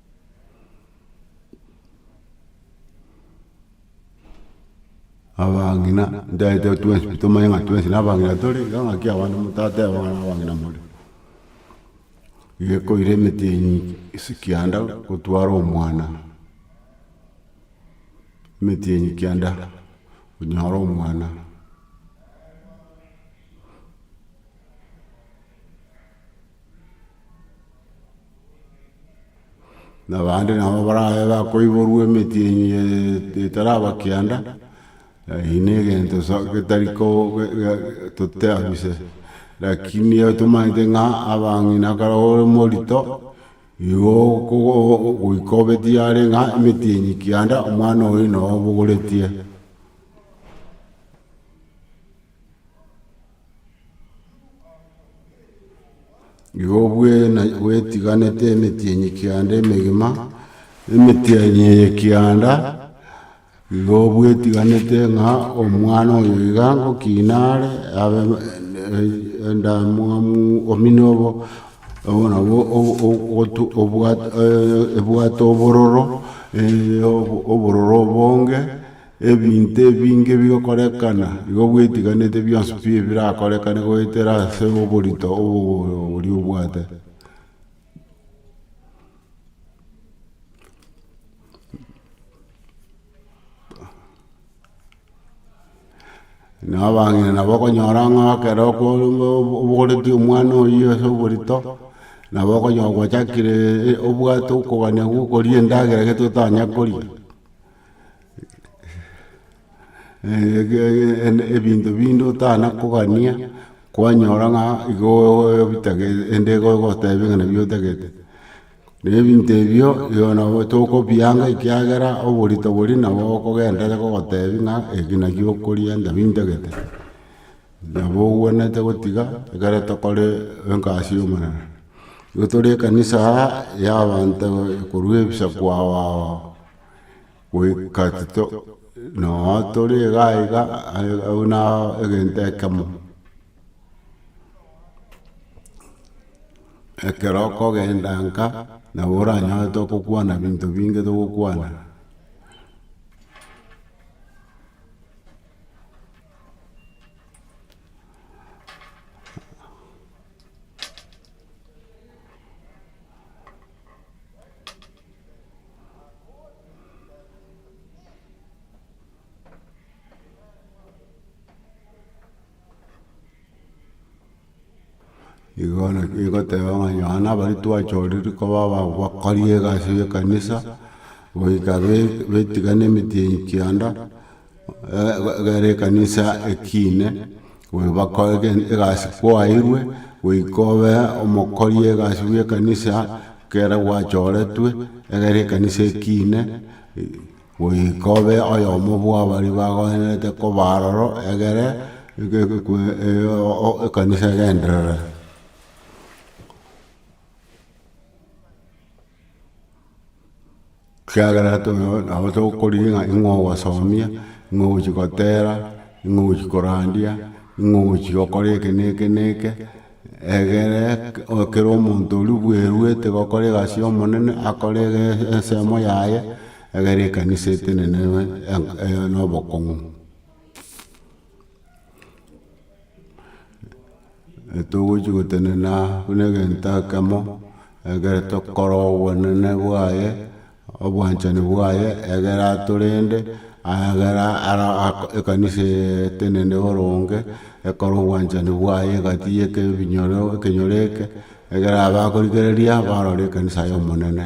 Abang'ina ntaete twensi pi tomanye ng'a twensi na abang'ina tore, iga ng'aki abande motateba ng'a abang'ina more. Iga ekoira emete enyinge ase kianda gotwara omwana, emete enye kianda onyore omwana. na abande nabo barabe bakoiborwa emetienyi etaraba kianda, eyio ne egento sa getari ko toteabise, rakini tomanyete ng'a abang'ina ekero ore morito, igo okogo goika obeti are ng'a emetienyi kianda omwana oyi noo obogoretie. Igo bwena bwetiganete emeti enye kianda emegima, emeti enye eye kianda, igo bwetiganete ng'a omwana oyo iga ngokina are, abe endamwamu omino obo, obo nabwo obwate obororo, obororo obonge. Ebinto ebinge bigokorekana, igo bwetiganete bionsi pi ebirakorekane goetera ase oborito obo oria obwate. Nabo abang'ina nabo okonyora ng'a ekero okore obo obogoreti omwana oyio ase oborito, nabo okonyora gwachakire obwate okogania gokoria endagera ege totanya koria. ebinto binde otana kogania, kwanyora ng'a igo obitege ende igo ogotebia ng'a nabio otagete. Na ebinto ebio igo nabo tokobianga ekiagera oborito boria nabo okogenderera gogotebi ng'a eke nakio okoria nabio ntagete. Nabo obwenerete gotiga ekero tokore egasi y'omonene. Igo tore ekanisa aa ya abanto korwa ebisaku ao ao. goika tito noo tore iga iga buna egento ekemo. Ekero okogenda nka nabo oranyore tokokwana binto binge togokwana. Igono igoteba ng'a nonya abare twachorire koba abakori egasi y'ekanisa, goika be- betigana emetienyi kianda, Egere ekanisa ekiine, gobakoe egasi kwaeirwe, goika obe omokori egasi bwe ekanisa, ekero gwachoretwe, egere ekanisa ekiine, goika obe oyomo bwabari bagoenerete koba aroro, egere ekanisa egenderere. Ekiagera nabo togokorigia ng'a ning'o ogosomia, ning'o ogochia gotera, ning'o ogochia korandia, ning'o ogochia gokora eke na eke na eke, egere kera omonto oria bweruete gokora egasi y'omonene, akore ensemo yaye, egere ekanisa etenenenwe na obokong'u. Togochi gotenena buna egento ekemo ekero tokora obonene bwaye, obwanchani bwaye egere atorende, egere ara ako ekanisa eye etenende boronge, ekore obwanchani bwaye egatiyi eke ebinyoro ekenyoro eke, egere abakorigereria barore ekanisa y'omonene.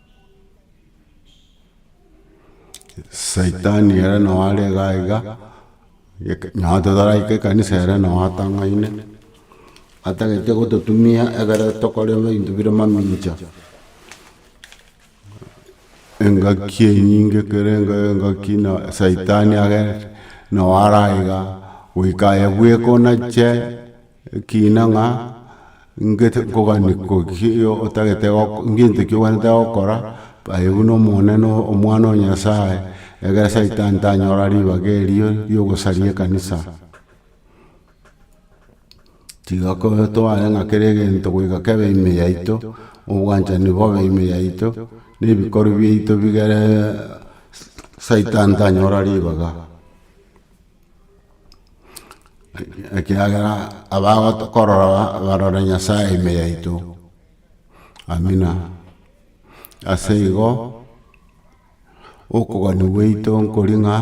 Saitani ere noo are igaa igaa, noo totaraika ekanisa ere noo atang'aine, atagete gototumia ekero tokore ebinto bire mamincha, engaki enyinge ekere engaki na saitani agere noo ara igaa, goika aye bweka onache. Ekiina ng'a ngete nkoganie koki otagete goko ngento ki obwenerete gokora, aye buna Omonene Omwana o Nyasaye, egere saitani tanyora ribaga erio riogosaria ekanisa. Tiga ko tware ng'a kera egento goika kebe ime yaito, obwanchani bobe ime yaito, na ebikori biaito bigere saitani tanyora ribaga. ekiagera abagotokorora barore Nyasaye ime yaito, amina. Ase igo, okogania gwaito nkoria ng'a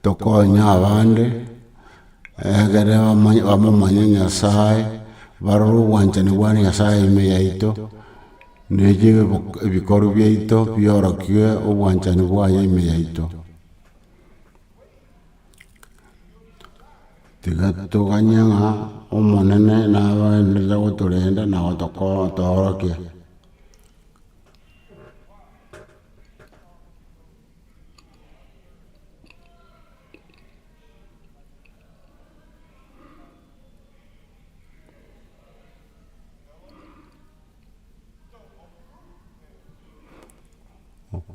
tokonye abande, egere bamanye bamomanye Nyasaye, barore obwanchani bwa Nyasaye ime yaito, na ebi ebikorwa biaito biorokie obwanchani bwaye ime yaito. Tiga toganye ng'a Omonene nabaenderere gotorenda na gotoorokia.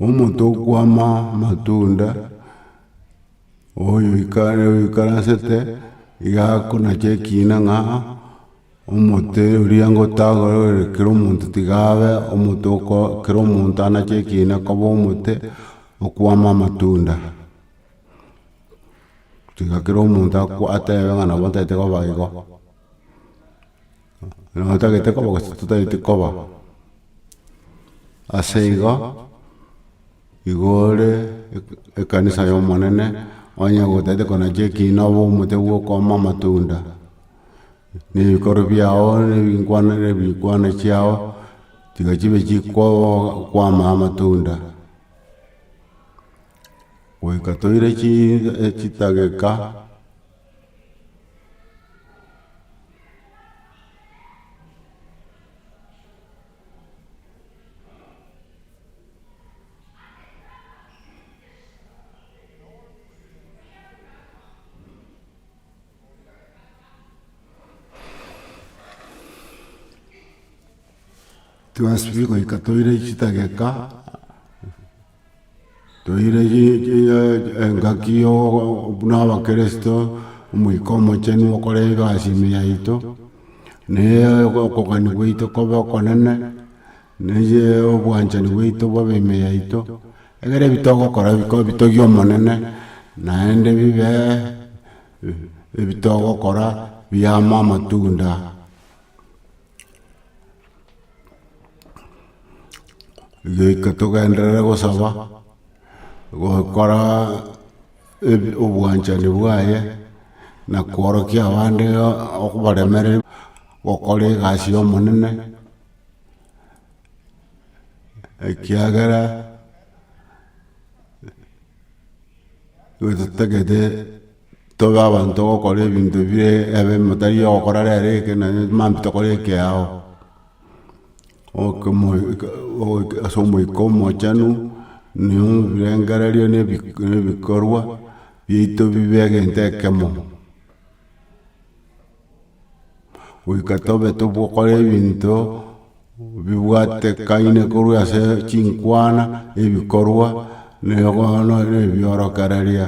Omonto okwama amatunda oyoikaransete iga akonacha ekina ng'a omote oria ngotagore ore kera omonto tiga abe omonto oko kera omonto anache ekina koba omote okwama amatunda. Tiga kera omonto atebe ng'a nabo ntaete koba igo. Nabo totagete koba gose totaeti koba. Ase igo, igo ore ekanisa y'Omonene, onye gotagete kona chia ekiina obe omote bw'okooma amatunda, na ebikorwa biao na ebinkwana na ebikwana chiao tiga chibe chikwama amatunda. Goika toire chi chitageka. Twasibire goika toire chitageka. Toire engaki ya buna abakirisito, Omoika Omochenu okore egasi ime yaito, na okogania gwaito kobe okonene, na obwanchani bwaito bobe ime yaito, egere ebi togokora bikobe bitogia Omonene, naende bibe ebi togokora biama amatunda. Goika togenderere gosaba, gokora ebi- obwanchani bwaye, na kworokia abande okobaremere gokora egasi y'Omonene, ekiagera totagete. Tobe abanto gokora ebinto bire ebe motari ogokora rero eke na maambia tokore ekeao. Ase omoika omochenu nigo ebirengererio na ebikorwa biaito bibe egento ekemo. Goika tobe togokora ebinto bibwatekaine korwa ase chinkwana, ebikorwa, na bono na ebiorokereria.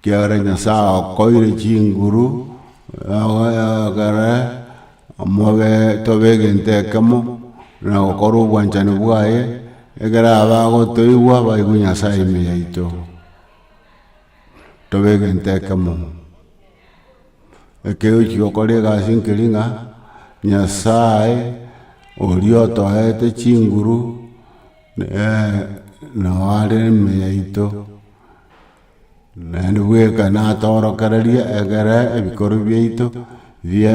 Ekiagera Nyasae akoire chinguru ekere mobe tobe egento ekemo, na gokora obwanchani bwaye, ekero abagotoigwa baigwe Nyasae ime yaito, tobe egento ekemo. Ekero ochia gokora egasi nkeri ng'a, Nyasae oria otoete chinguru, Ee, nao are ime yaito, naende bweka natorokereria egere ebikoro biaito bie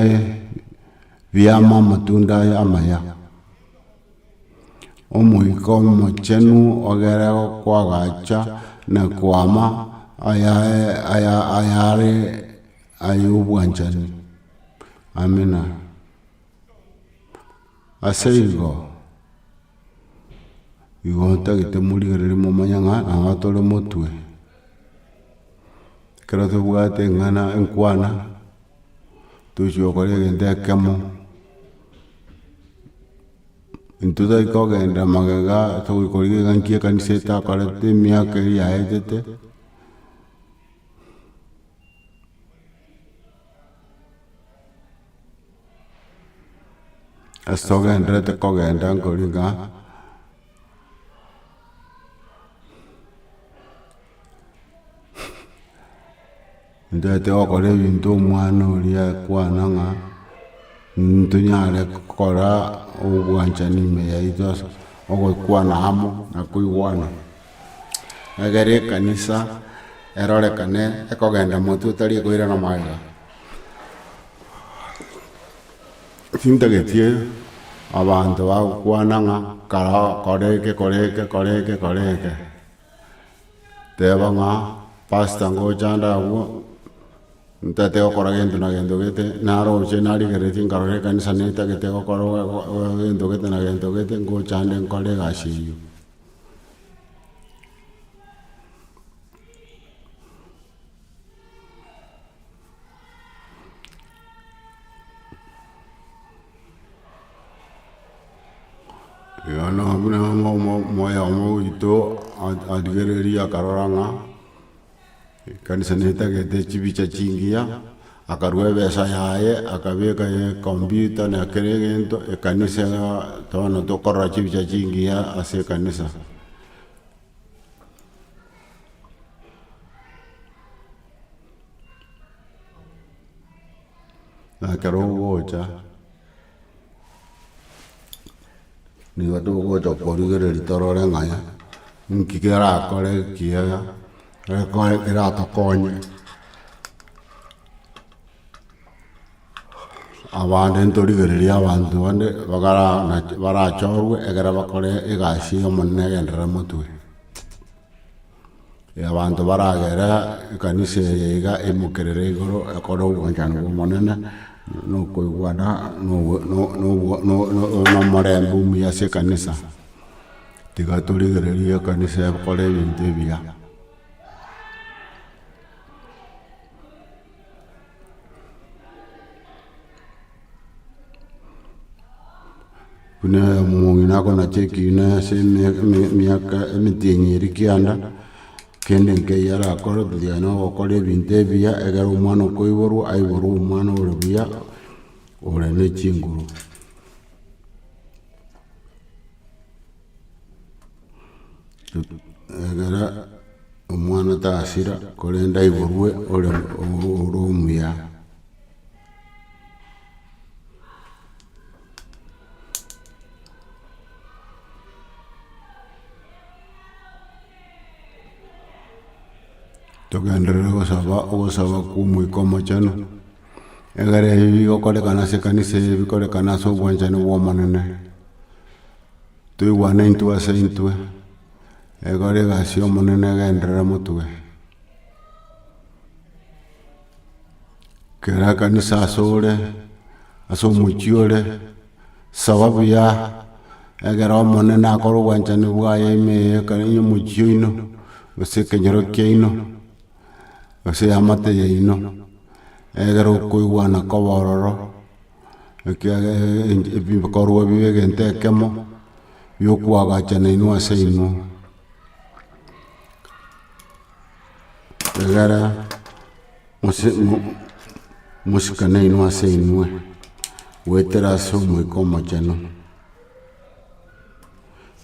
biama amatunda aya amaya. Omoika omochenu ogere okwagacha na kwama ayae aya ayare ayobwanchani, amina. Aseigo, igo ntagete morigereria momanye ng'a nang'o tore motwe, ekero tobwate eng'ana enkwana, tochia gokora egento ekemo, intwe tari kogenda magega togoikora iga nki ekanisa etakorete emiaka eria yaetete. Ase togenderete kogenda nkori ng'a ntaete gokora ebinto omwana oria akwana ng'a ntonyare gokora obwanchani ime yaito ase ogokwana amo na koigwana. egere ekanisa erorekane ekogenda motwe otari koirana magega. Tintagetie abanto bagokwana ng'a kare oo kore eke kore eke kore eke kore eke, teba ng'a pasta ngochanda agwo ntagete gokora gento na gento gete naroche narigeretie nkarora ekanisa netagete gokora gento gete na gento gete ngochande nkore egasi eyio. Bono buna omo- omo- omoyo oito a- arigereiri akarora ng'a. Ekanisa netagete chibicha chingiya, akarua ebesa yaye akabeka ekombiuta na kera egento ekanisa bono tokorora chibicha chingiya ase ekanisa. Ekero ogocha. Nigo togocha korigereria torore ng'a nki kerakore ekiya keratokonye abande ntorigereria abanto bande bagara barachorwe ekero bakore egasi y'Omonene egenderere motwe. Abanto baragere ekanisa eye iga emokerere igoro ekore obwanchani bw'Omonene, na okoigwana, na omorembe omuya ase ekanisa. Tiga torigererie ekanisa ekore ebinto ebiya. Buna omong'ina akonacheki buna ase eme- eme- emiaka emetienyi eria kianda, kende nkeiyo arakore tiga na ogokora ebinto ebiya, egere omwana okoiborwa, aiborwe omwana ore buya, ore ne chinguru. Egere omwana tasira korende aiborwe ore omuya. Togenderere gosaba ogosaba kwa omoika omochenu, egere ebi bigokorekana ase ekanisa eye bikorekane ase obwanchani bwa Omonene. Toigwane intwe ase intwe, egora egasi y'Omonene egenderere motwe. Kera ekanisa ase ore, ase omochie ore, saba buya, egere Omonene akore obwanchani bwaye ime eye ekero ya omochie oino, gose ekenyoro kiaino, gose eamate yaino, egere okoigwana koba ororo. ekiagera ebikorwa bibe egento ekemo biokwagachana inwe ase inwe, egere mosikane inwe ase inwe goetera ase Omoika Omochenu,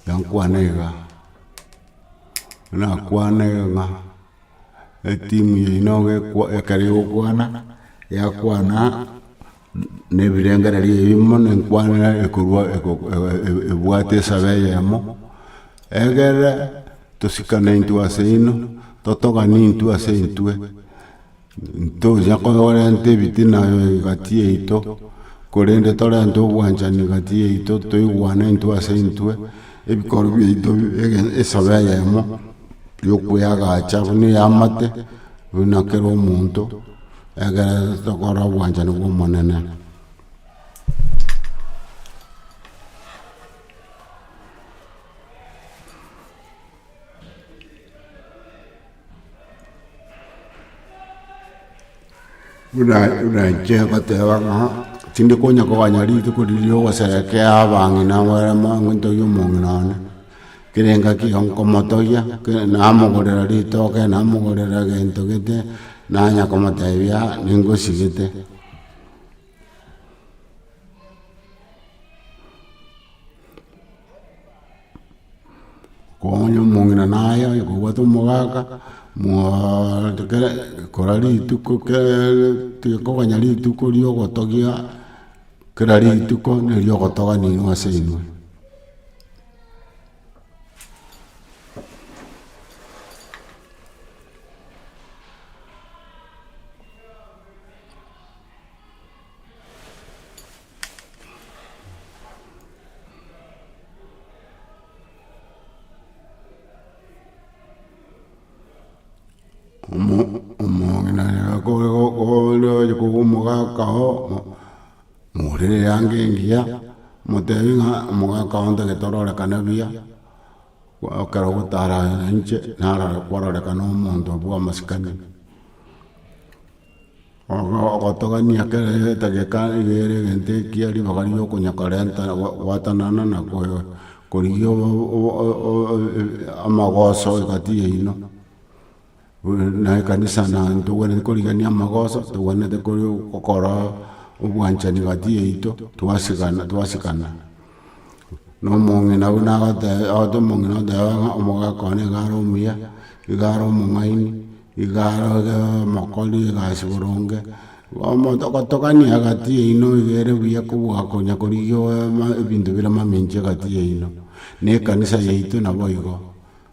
enkwana iga, nakwane ng'a. Etimu yaino ekero egokwana yakwana nebirengererio ebimo ne nkwanera ekorwa ebwate esabe eyemo egere tosikane intwe ase inwe totogane intwe ase intwe. Ntocha korenta ebitina egati yaito, korende torente obwanchani egati yaito, toigwane intwe ase intwe, ebikorwa biaito esobe eyemo ya okoeagacha buna eya amate, buna kera omonto, egere tokore obwanchani bwa Omonene. buna inche ngoteba ng'a tindi konya koganya rituko riria ogoserekea abang'ina bare montogie omong'ina one, kere engaki iga nkomotogia, kere namogorera ritoke, namogorera egento gete, nanya komotebia ningosigete. Okong'unya omong'ina naye onye kobwate omogaka mwaaaaa kere kora rituko keree tiga koganya rituko ria ogotogia kera rituko nerio ogotoganinwa ase inwe. omo- omong'ina kore go- gonde oye kobu omogaka oo, mo- morere eanga engiya, motebi ng'a omogaka oo ntagete ororekane buya, kwa ekero ogotara inche, narora kwarorekana omonto bwa amasikani. Ogotogania kera egegeka egere egento ekiya ribaga riria okonya korenta gwatanana na korigia amagoso egati yaino na ekanisa na ntogwenerete korigania amagoso togwenerete gokora obwanchani egati yaito twasikana. Nomong'ina buna agoteba, ogote omong'ina ogoteba ng'a omogaka one nigo are omuya, nigo are omong'aini, nigo are omokori egasi boronge, bono togotogania egati yaino iga ere buya kobua konya korigia ebinto bire mamenchi egati yaino, na ekanisa yaito naboigo,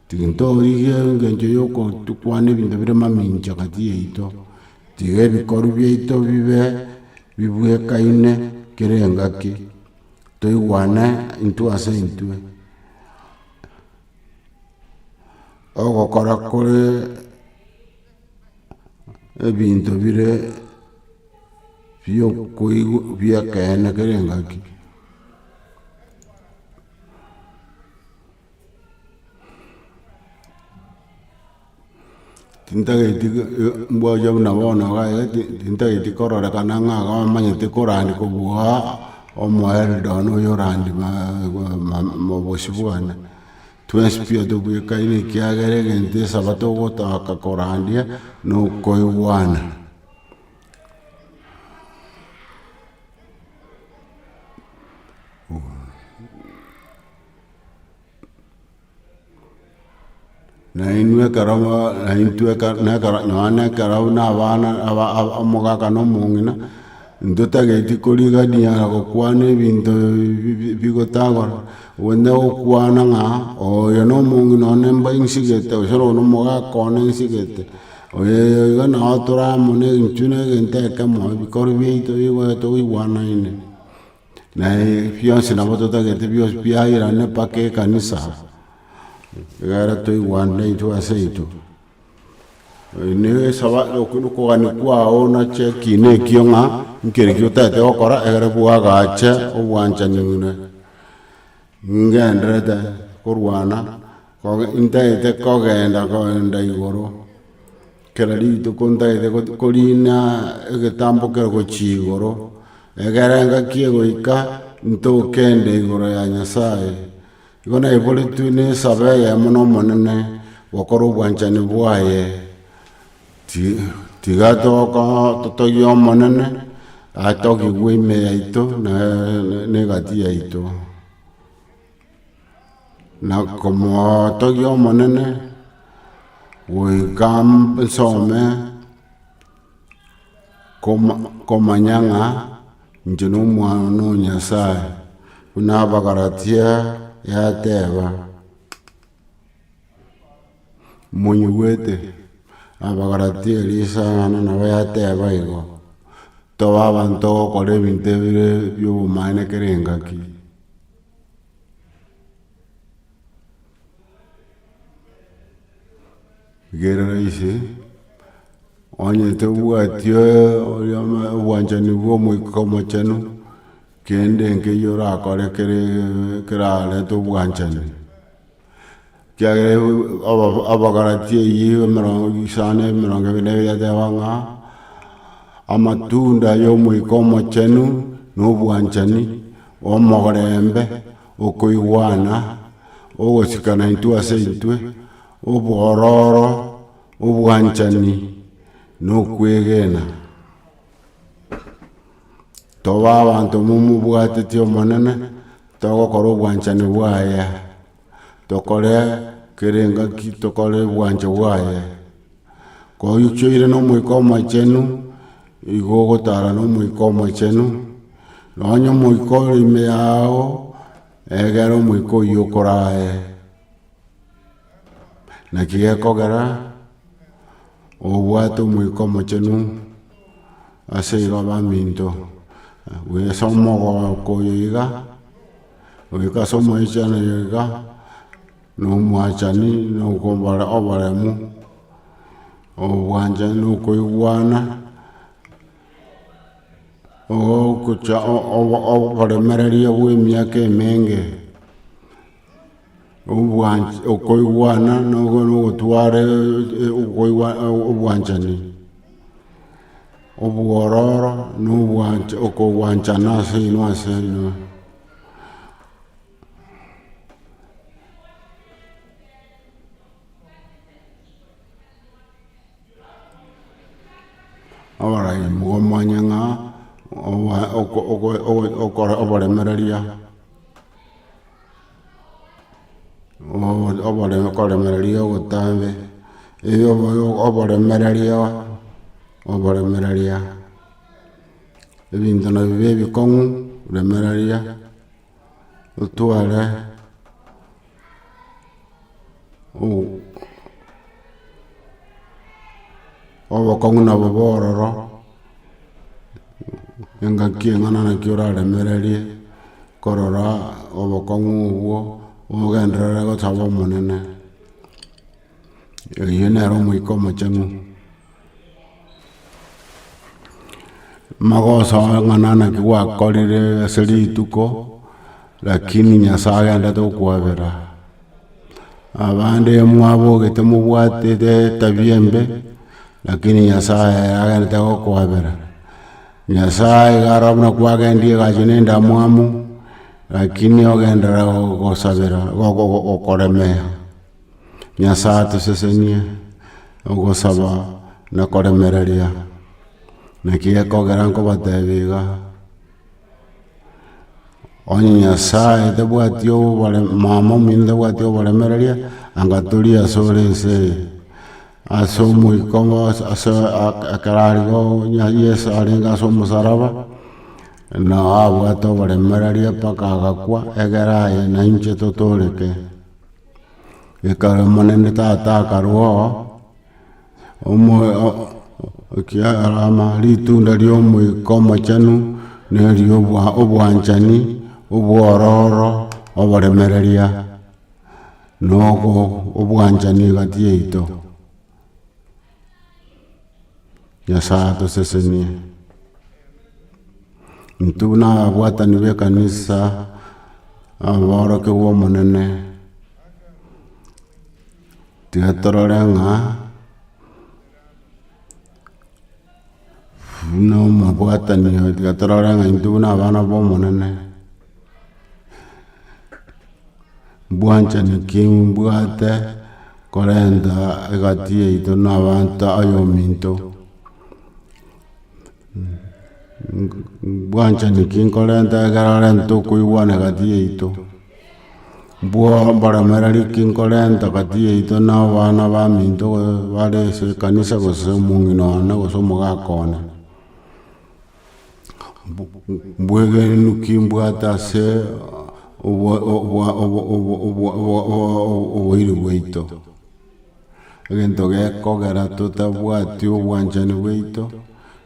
tintorigia engencho ya ogotukwana ebinto bire mamenchi egati yaito, tiga ebikoru biaito bibe bibuekaine kera engaki. toigwane intwe ase intwe, ogokora kore ebinto bire biokoigwa bi'ekeene kere engaki. Tintageti mbwachia buna bono iga tintageti kororekana ng'a iga omanyete korandi kobua omo Eldon oyo orandi mobosi bwane twensi piya tobwekaine ekiagera egento esabato ogotaka korandia nokoigwana Nainwe ekero mo- naintwe eke- nekero nonye na ekero buna abana aba- aba omogaka na omong'ina, ntotageti korigania na gokwana ebinto bi- bi- bigotagora, gose gokwana ng'a oyo na omong'ina one mba nsigete, gose oyo na omogaka one nsigete, oyoyo iga nabo tore amo na egenchuni egento ekemo, ebikoro biaito bigoeta goigwanaine. Na bionsi nabo totagete bionsi biairane mpaka ekanisa, egere toigwane intwe aseintwe. Okwo na okogania kwao nache ekiina ekio ng'a, nkereki otagete gokora egere bwagache obwanchani ng'ina. Ningenderete korwana, ntaete kogenda goenda igoro, kera rituko ntaete korina egetambo kere gochia igoro, egere engaki egoika ntokende igoro ya Nyasaye, igo naiboretwe nesabe eyemo na Omonene, gokora obwanchani bwaye, Tiga totogie Omonene, atogigwe ime yaito na egati yaito. Na komotogia Omonene, goika nsome komanya ng'a inche nomwana o Nyasaye, buna Abagalatia yateba. Monyigwete Abagalatia eria isang'ana nabo yateba igo, toba abanto ogokora ebinto ebire bia obomaene kera engaki. Rigereria ise, onye tobwati oria obwanchani bw'Omoika Omochenu, kende nkeiyo orakore kere kerarete obwanchani. Ekiagera aba- Abagalatia eyio emerongo isano na emerongo ebere na ebere yateba ng'a, amatunda y'Omoika Omochenu na obwanchani, omorembe, okoigwana, ogosikana intwe ase intwe, Obwororo, obwanchani, na okwegena. Toba abanto momobwateti Omonene, togokora obwanchani bwaye, tokore kera engaki tokore obwancha bwaye, koyio kioire na omoika omochenu, igo ogotara na omoika omochenu, nonye omoika ore ime yao, egera omoika oyio okorae. Naki gekogera obwate omoika omochenu ase igo abaminto ase omogoko oyo iga goika ase omoichano oyo iga na omwachani na oboremu obwanchani na okoigwana oboremereria bwe emiaka emenge obwanch- okoigwana na ogotwara okoigwa obwanchani, obwororo na obwanch okogwanchana ase inwe ase inwe. Oboraim bwomwanya ng'a obo- oko- oko- oko- okoremereria. okoremereria ogotambe oboremereria oboremereria ebinto nabio bie ebikong'u remereria otware. obokong'u nabo bororo, engaki eng'ana naki oraremererie korora obokong'u obwo, omogenderere gosaba omonene, oyio nere omoika omochenu. Mogosoa ng'ana naki gwakorire ase rituko, lakini Nyasae agenderete gokwabera. Abande mwabogete mobwatete etabia embe, lakini Nyasae ere agenderete gokwabera. Nyasae iga aro buna kwagendirie egachie na endamwamu, lakini ogenderera gogosabera, gokoremea. Nyasae atosesenie ogosaba na koremereria. Naki gekogera nkobateebia iga, onye Nyasae tabwati obore mama ominto tabwati oboremereria, anga toria ase ore ense eye. Ase omoika ase ekero arigo Yeso arenge ase omosaraba, na abwate oboremereria mpaka agakwa, egere aye na inche totooreke. Ekero Omonene Tata akarua oo, omo- o- ekiagera ritunda ria Omoika Omochenu nerio obwa- obwanchani, obwororo, oboremereria, na ogo- obwanchani egati yaito. Nyasae atosesenie. Intwe buna ababwatani b'ekanisa, ababorokigwa Omonene, tiga torore ng'a buna omobwatani oyo tiga torore ng'a intwe buna abana b'Omonene. Bwanchani ki mbwate korenta egati yaito na abanto aye ominto? Bwanchani ki nkorenta ekero renta tokoigwana egati yaito? Mboremeri ki nkorenta egati yaito na abana baminto bare ase ekanisa gose omong'ina one gose omogaka one? Mbwegenenu ki mbwate ase oboiri bwaito? Egento gekogera totabwati obwanchani bwaito,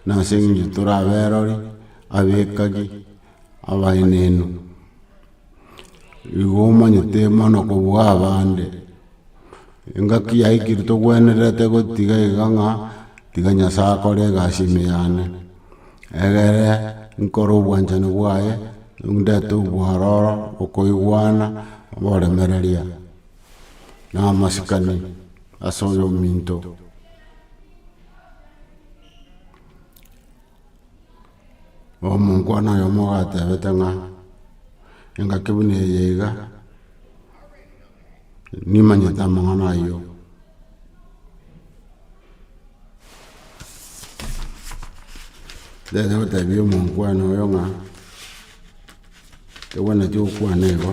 nase eng'encho tore aberori, abekagi, abaenenu. Igo omanyete mono kobua abande, engaki yaikire togwenerete gotiga iga ng'a tiga Nyasae akore egasi ime yane, egere nkore obwanchani bwaye, ndete obwororo, okoigwana, oboremereria, na amasikani ase oyo ominto. Omonkwana oyomo ogatebete ng'a, engaki buna eye iga, nimanyete amang'ana ayio. Ndagera gotebia omonkwana oyo ng'a, togwenereti gokwana igo,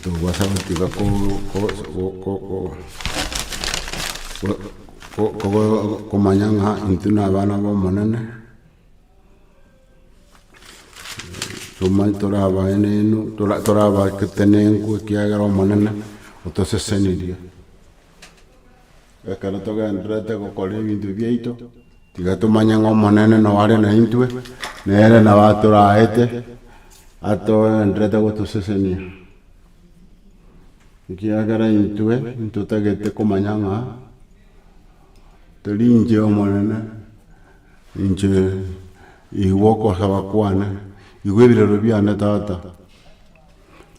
Tobasa gotiga komanya ng'a intwe nabana b'Omonene, tomanye tore abaenenu, tore abaketenenku ekiagera Omonene otosesenirie. ekero togendererete gokora ebinto biaito, tiga tomanye ng'a Omonene noo are naintwe, nere nabo atoraete, atogendererete gotosesenia. Ekiagera intwe ntotagete komanya ng'a teri inche Omonene, inche igwe ogosaba kwane, igwe ebirero biane tata.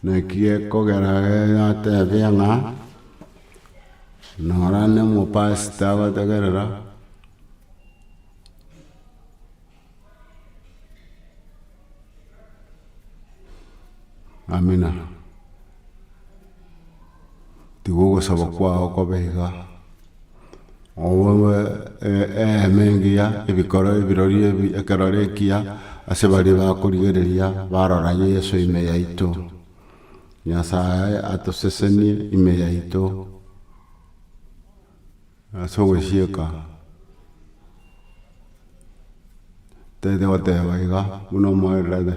Naki ekogera aya yatebia ng'a, Nora nomopastor agotegerera, amina. Tiga ogosaba kwao kobe iga, oboe eema engiya, ebikoro ebirorio ebi, ekerore ekiya, ase baria bakorigereria barora Yeso ime yaito. Nyasae atosesenie ime yaito ase ogosieka, tete goteba iga, buna omoererete.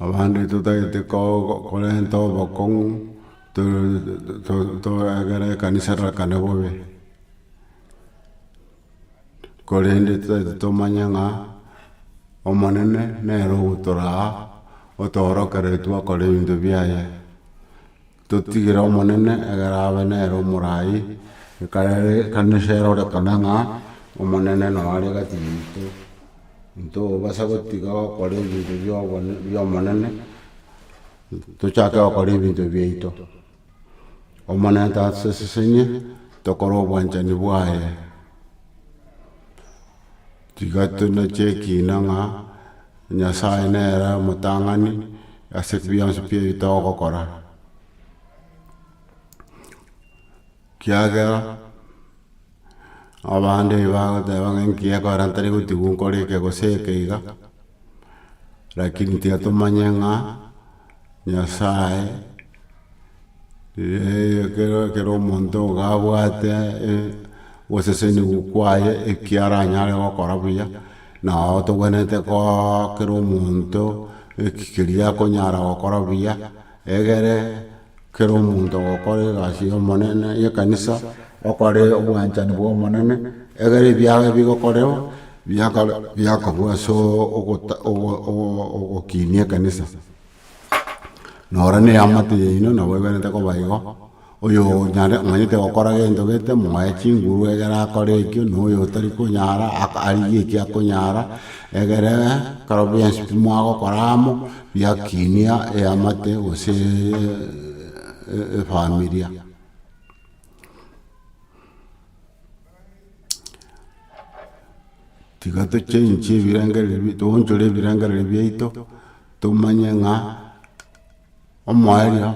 Abande totagete ko- korenta obokong'u egere ekanisa erakane bobe, korende totagete tomanye ng'a Omonene nere ogotoraa otoorokereria twakora ebinto biaye. Totigire Omonene egere abe nere omoraai, ekarere ekanisa erorekane ng'a Omonene noo are gati yaito. Ntobasa gotiga gokora ebinto bi'obonene bi'Omonene, tochake gokora ebinto biaito. Omonene tasesesenie tokore obwanchani bwaye. Tiga tonache ekiina ng'a Nyasae nere omotang'ani ase bionsi pi ebi togokora, kiagera abande ebi bagoteba ng'a enki gekogera ntari gotigwa nkore eke gose eke iga, rakini tiga tomanye ng'a. Nyasae, ekero ekero omonto iga abwate ogoseseniwa kwaye ekio aranyare gokora buya, nao tokwenerete kooa kera omonto eki keria akonyara gokora buya, egere kera omonto ogokora egasi ya omonene ya ekanisa, okore obwanchani bwa omonene, egere ebiago ebigokorerwa, biakore biakorwa ase ogota ogo ogo ogokinia ekanisa. noro neamate yaino nabo eberete koba igo, oyo nyare omanyete gokora gento gete moe chinguru egere akore ekio na oyo otari konyara aka arigie eki akonyara, egere ekero bionsi pi mwagokora amo biakinia eamate gose efamilia. tiga tochenchi ebirengereri bi- toonchore ebirengereri biaito, tomanye ng'a omoerio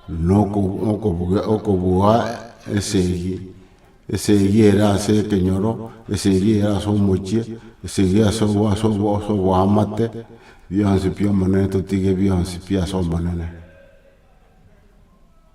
nokob nokobuga okobua esegi, esegi ere ase ekenyoro, esegi ere ase omochie, esegi ase obo ase obo ase oboamate, bionsi pi Omonene totige bionsi pi ase Omonene.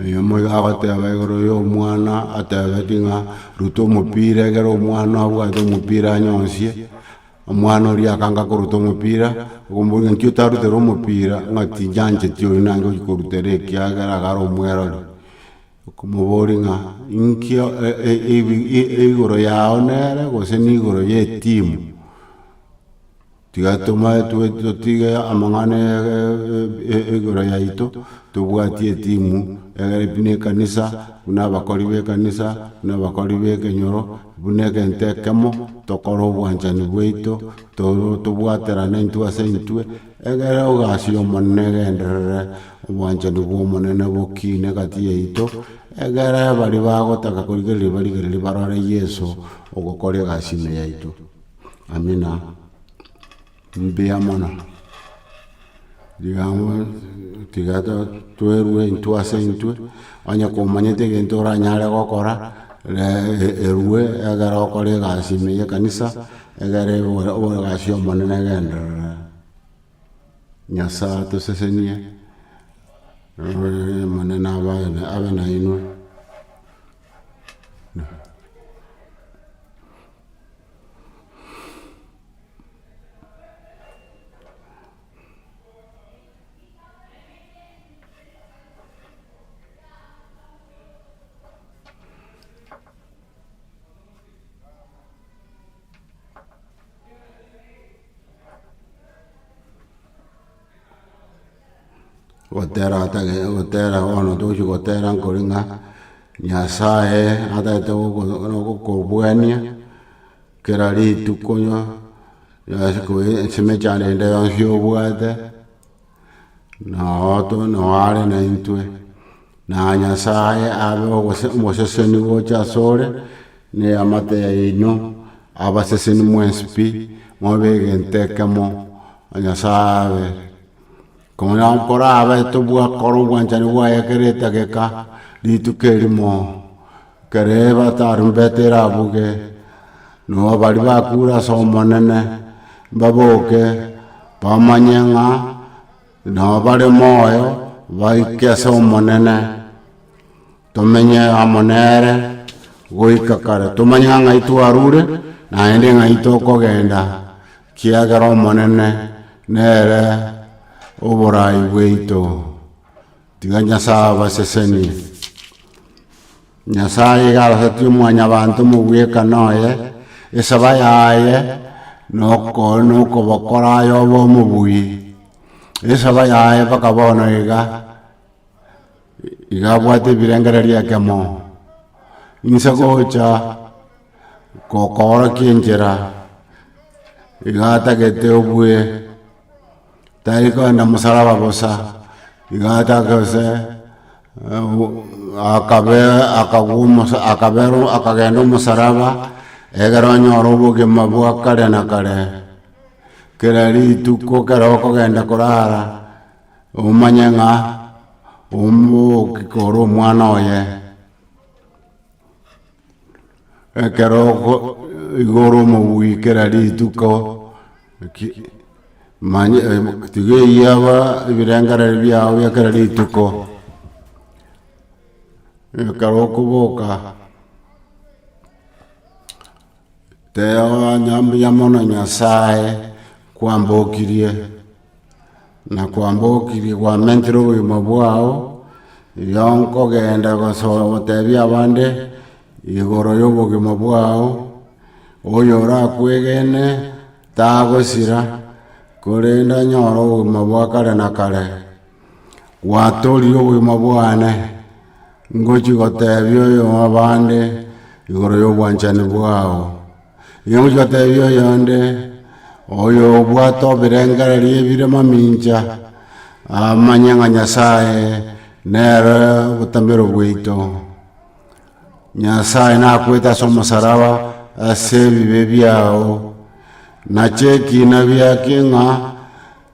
Oyo omoyo agoteba igoro ya omwana atebeti ng'a ruta omopira ekero omwana abwate omopira anyonsie, omwana oria akange akoruta omopira, okomoboria nki otarutera omopira, ng'a tinyancheti oyu naki ochi korutera ekiagera iga are omwerori. Okomoboria ng'a, Inki igoro yao nere, gose nigoro y'etimu? Tiga tomae totige amang'ana igoro yaito, tobwatie etimu, egere buna ekanisa, buna abakori b'ekanisa, buna abakori b'ekenyoro, buna egento ekemo, tokore obwanchani bwaito, tobwaterane intwe ase intwe. Ekero egasi y'Omonene egenderere, obwanchani bw'Omonene bokiine egati yaito, ekero baria bagotaka korigereria barigererie barore Yeso ogokora egasi ime yaito. Amina. Mbuya mono. Rigaamo tiga twerue intwe ase intwe, onye komanyete egento oranyare gokora, ree erue ekero okora egasi ime y'ekanisa. Egere obogasi omonene genderera, Nyasae atosesenie, Omonene abe nainwe. gotera atage gotera bono togochi gotera nkore ng'a nyasaye atagete gogo nogokobuania kera rituko onye ase koe ensemo echa rende yonsi obwate. noare naintwe, na Nyasae abe omoseseni gocha asore, na eamate yaino, abaseseni mwensi pi, mobe egento ekemo, Nyasae abe, korabe tobwa kora obwanchani bwaye kera etageka, rituko erimo. Ekero eba tarumbeta erabuge, noa baria bakure ase Omonene mbaboke, bamanye ng'a nao bare moyo, baike ase Omonene, tomenye amo nere goika kare. Tomanye ng'a ng'ai twarure, naende ng'ai tokogenda, ekiagera Omonene nere oborai bwaito. Tiga Nyasae abasesenie. Nyasae iga arasatie omwanyabanto omobwekano oye, esaba yaye nokobokora aye obe omobuyi. Esaba yaye mpaka bono iga, iga abwate ebirengererio ekemo. Inse gocha kokoorokia enchera, iga atagete obue. tari koenda mosalaba bosa, iga atake gose akabe akagwa omosa akabera akagenda omosalaba, egere onyore obogima bwa kare na kare, kera rituko kero okogenda korara, omanye ng'a omogokika ore omwana oye. Ekero igoro omogwikera rituko manye tiga eyaba ebirengereri biago bia kera rituko ekero okoboka tee onya mbuya mono nyasaye kwambokirie. nakwambokirie gwamentere obogima bwao, igo nkogenda gosoa gotebia abande igoro yobogima bwao, oyo orakwegene tagosira, korende anyore obogima bwa kare na kare, gwatorire obogima bwane, ngochi gotebia oyo abande igoro yobwanchani bwao. Inyamochi batebia oyonde, Oyo obwate obirengererio ebire mamincha, amanye ng'a Nyasaye nere obotamero bwaito. Nyasaye nakoete ase omosaraba ase ebibe biao, nache ekina biake ng'a.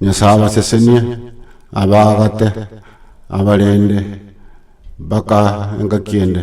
Nyasae abasesenie abaagate abarende mpaka engaki ende.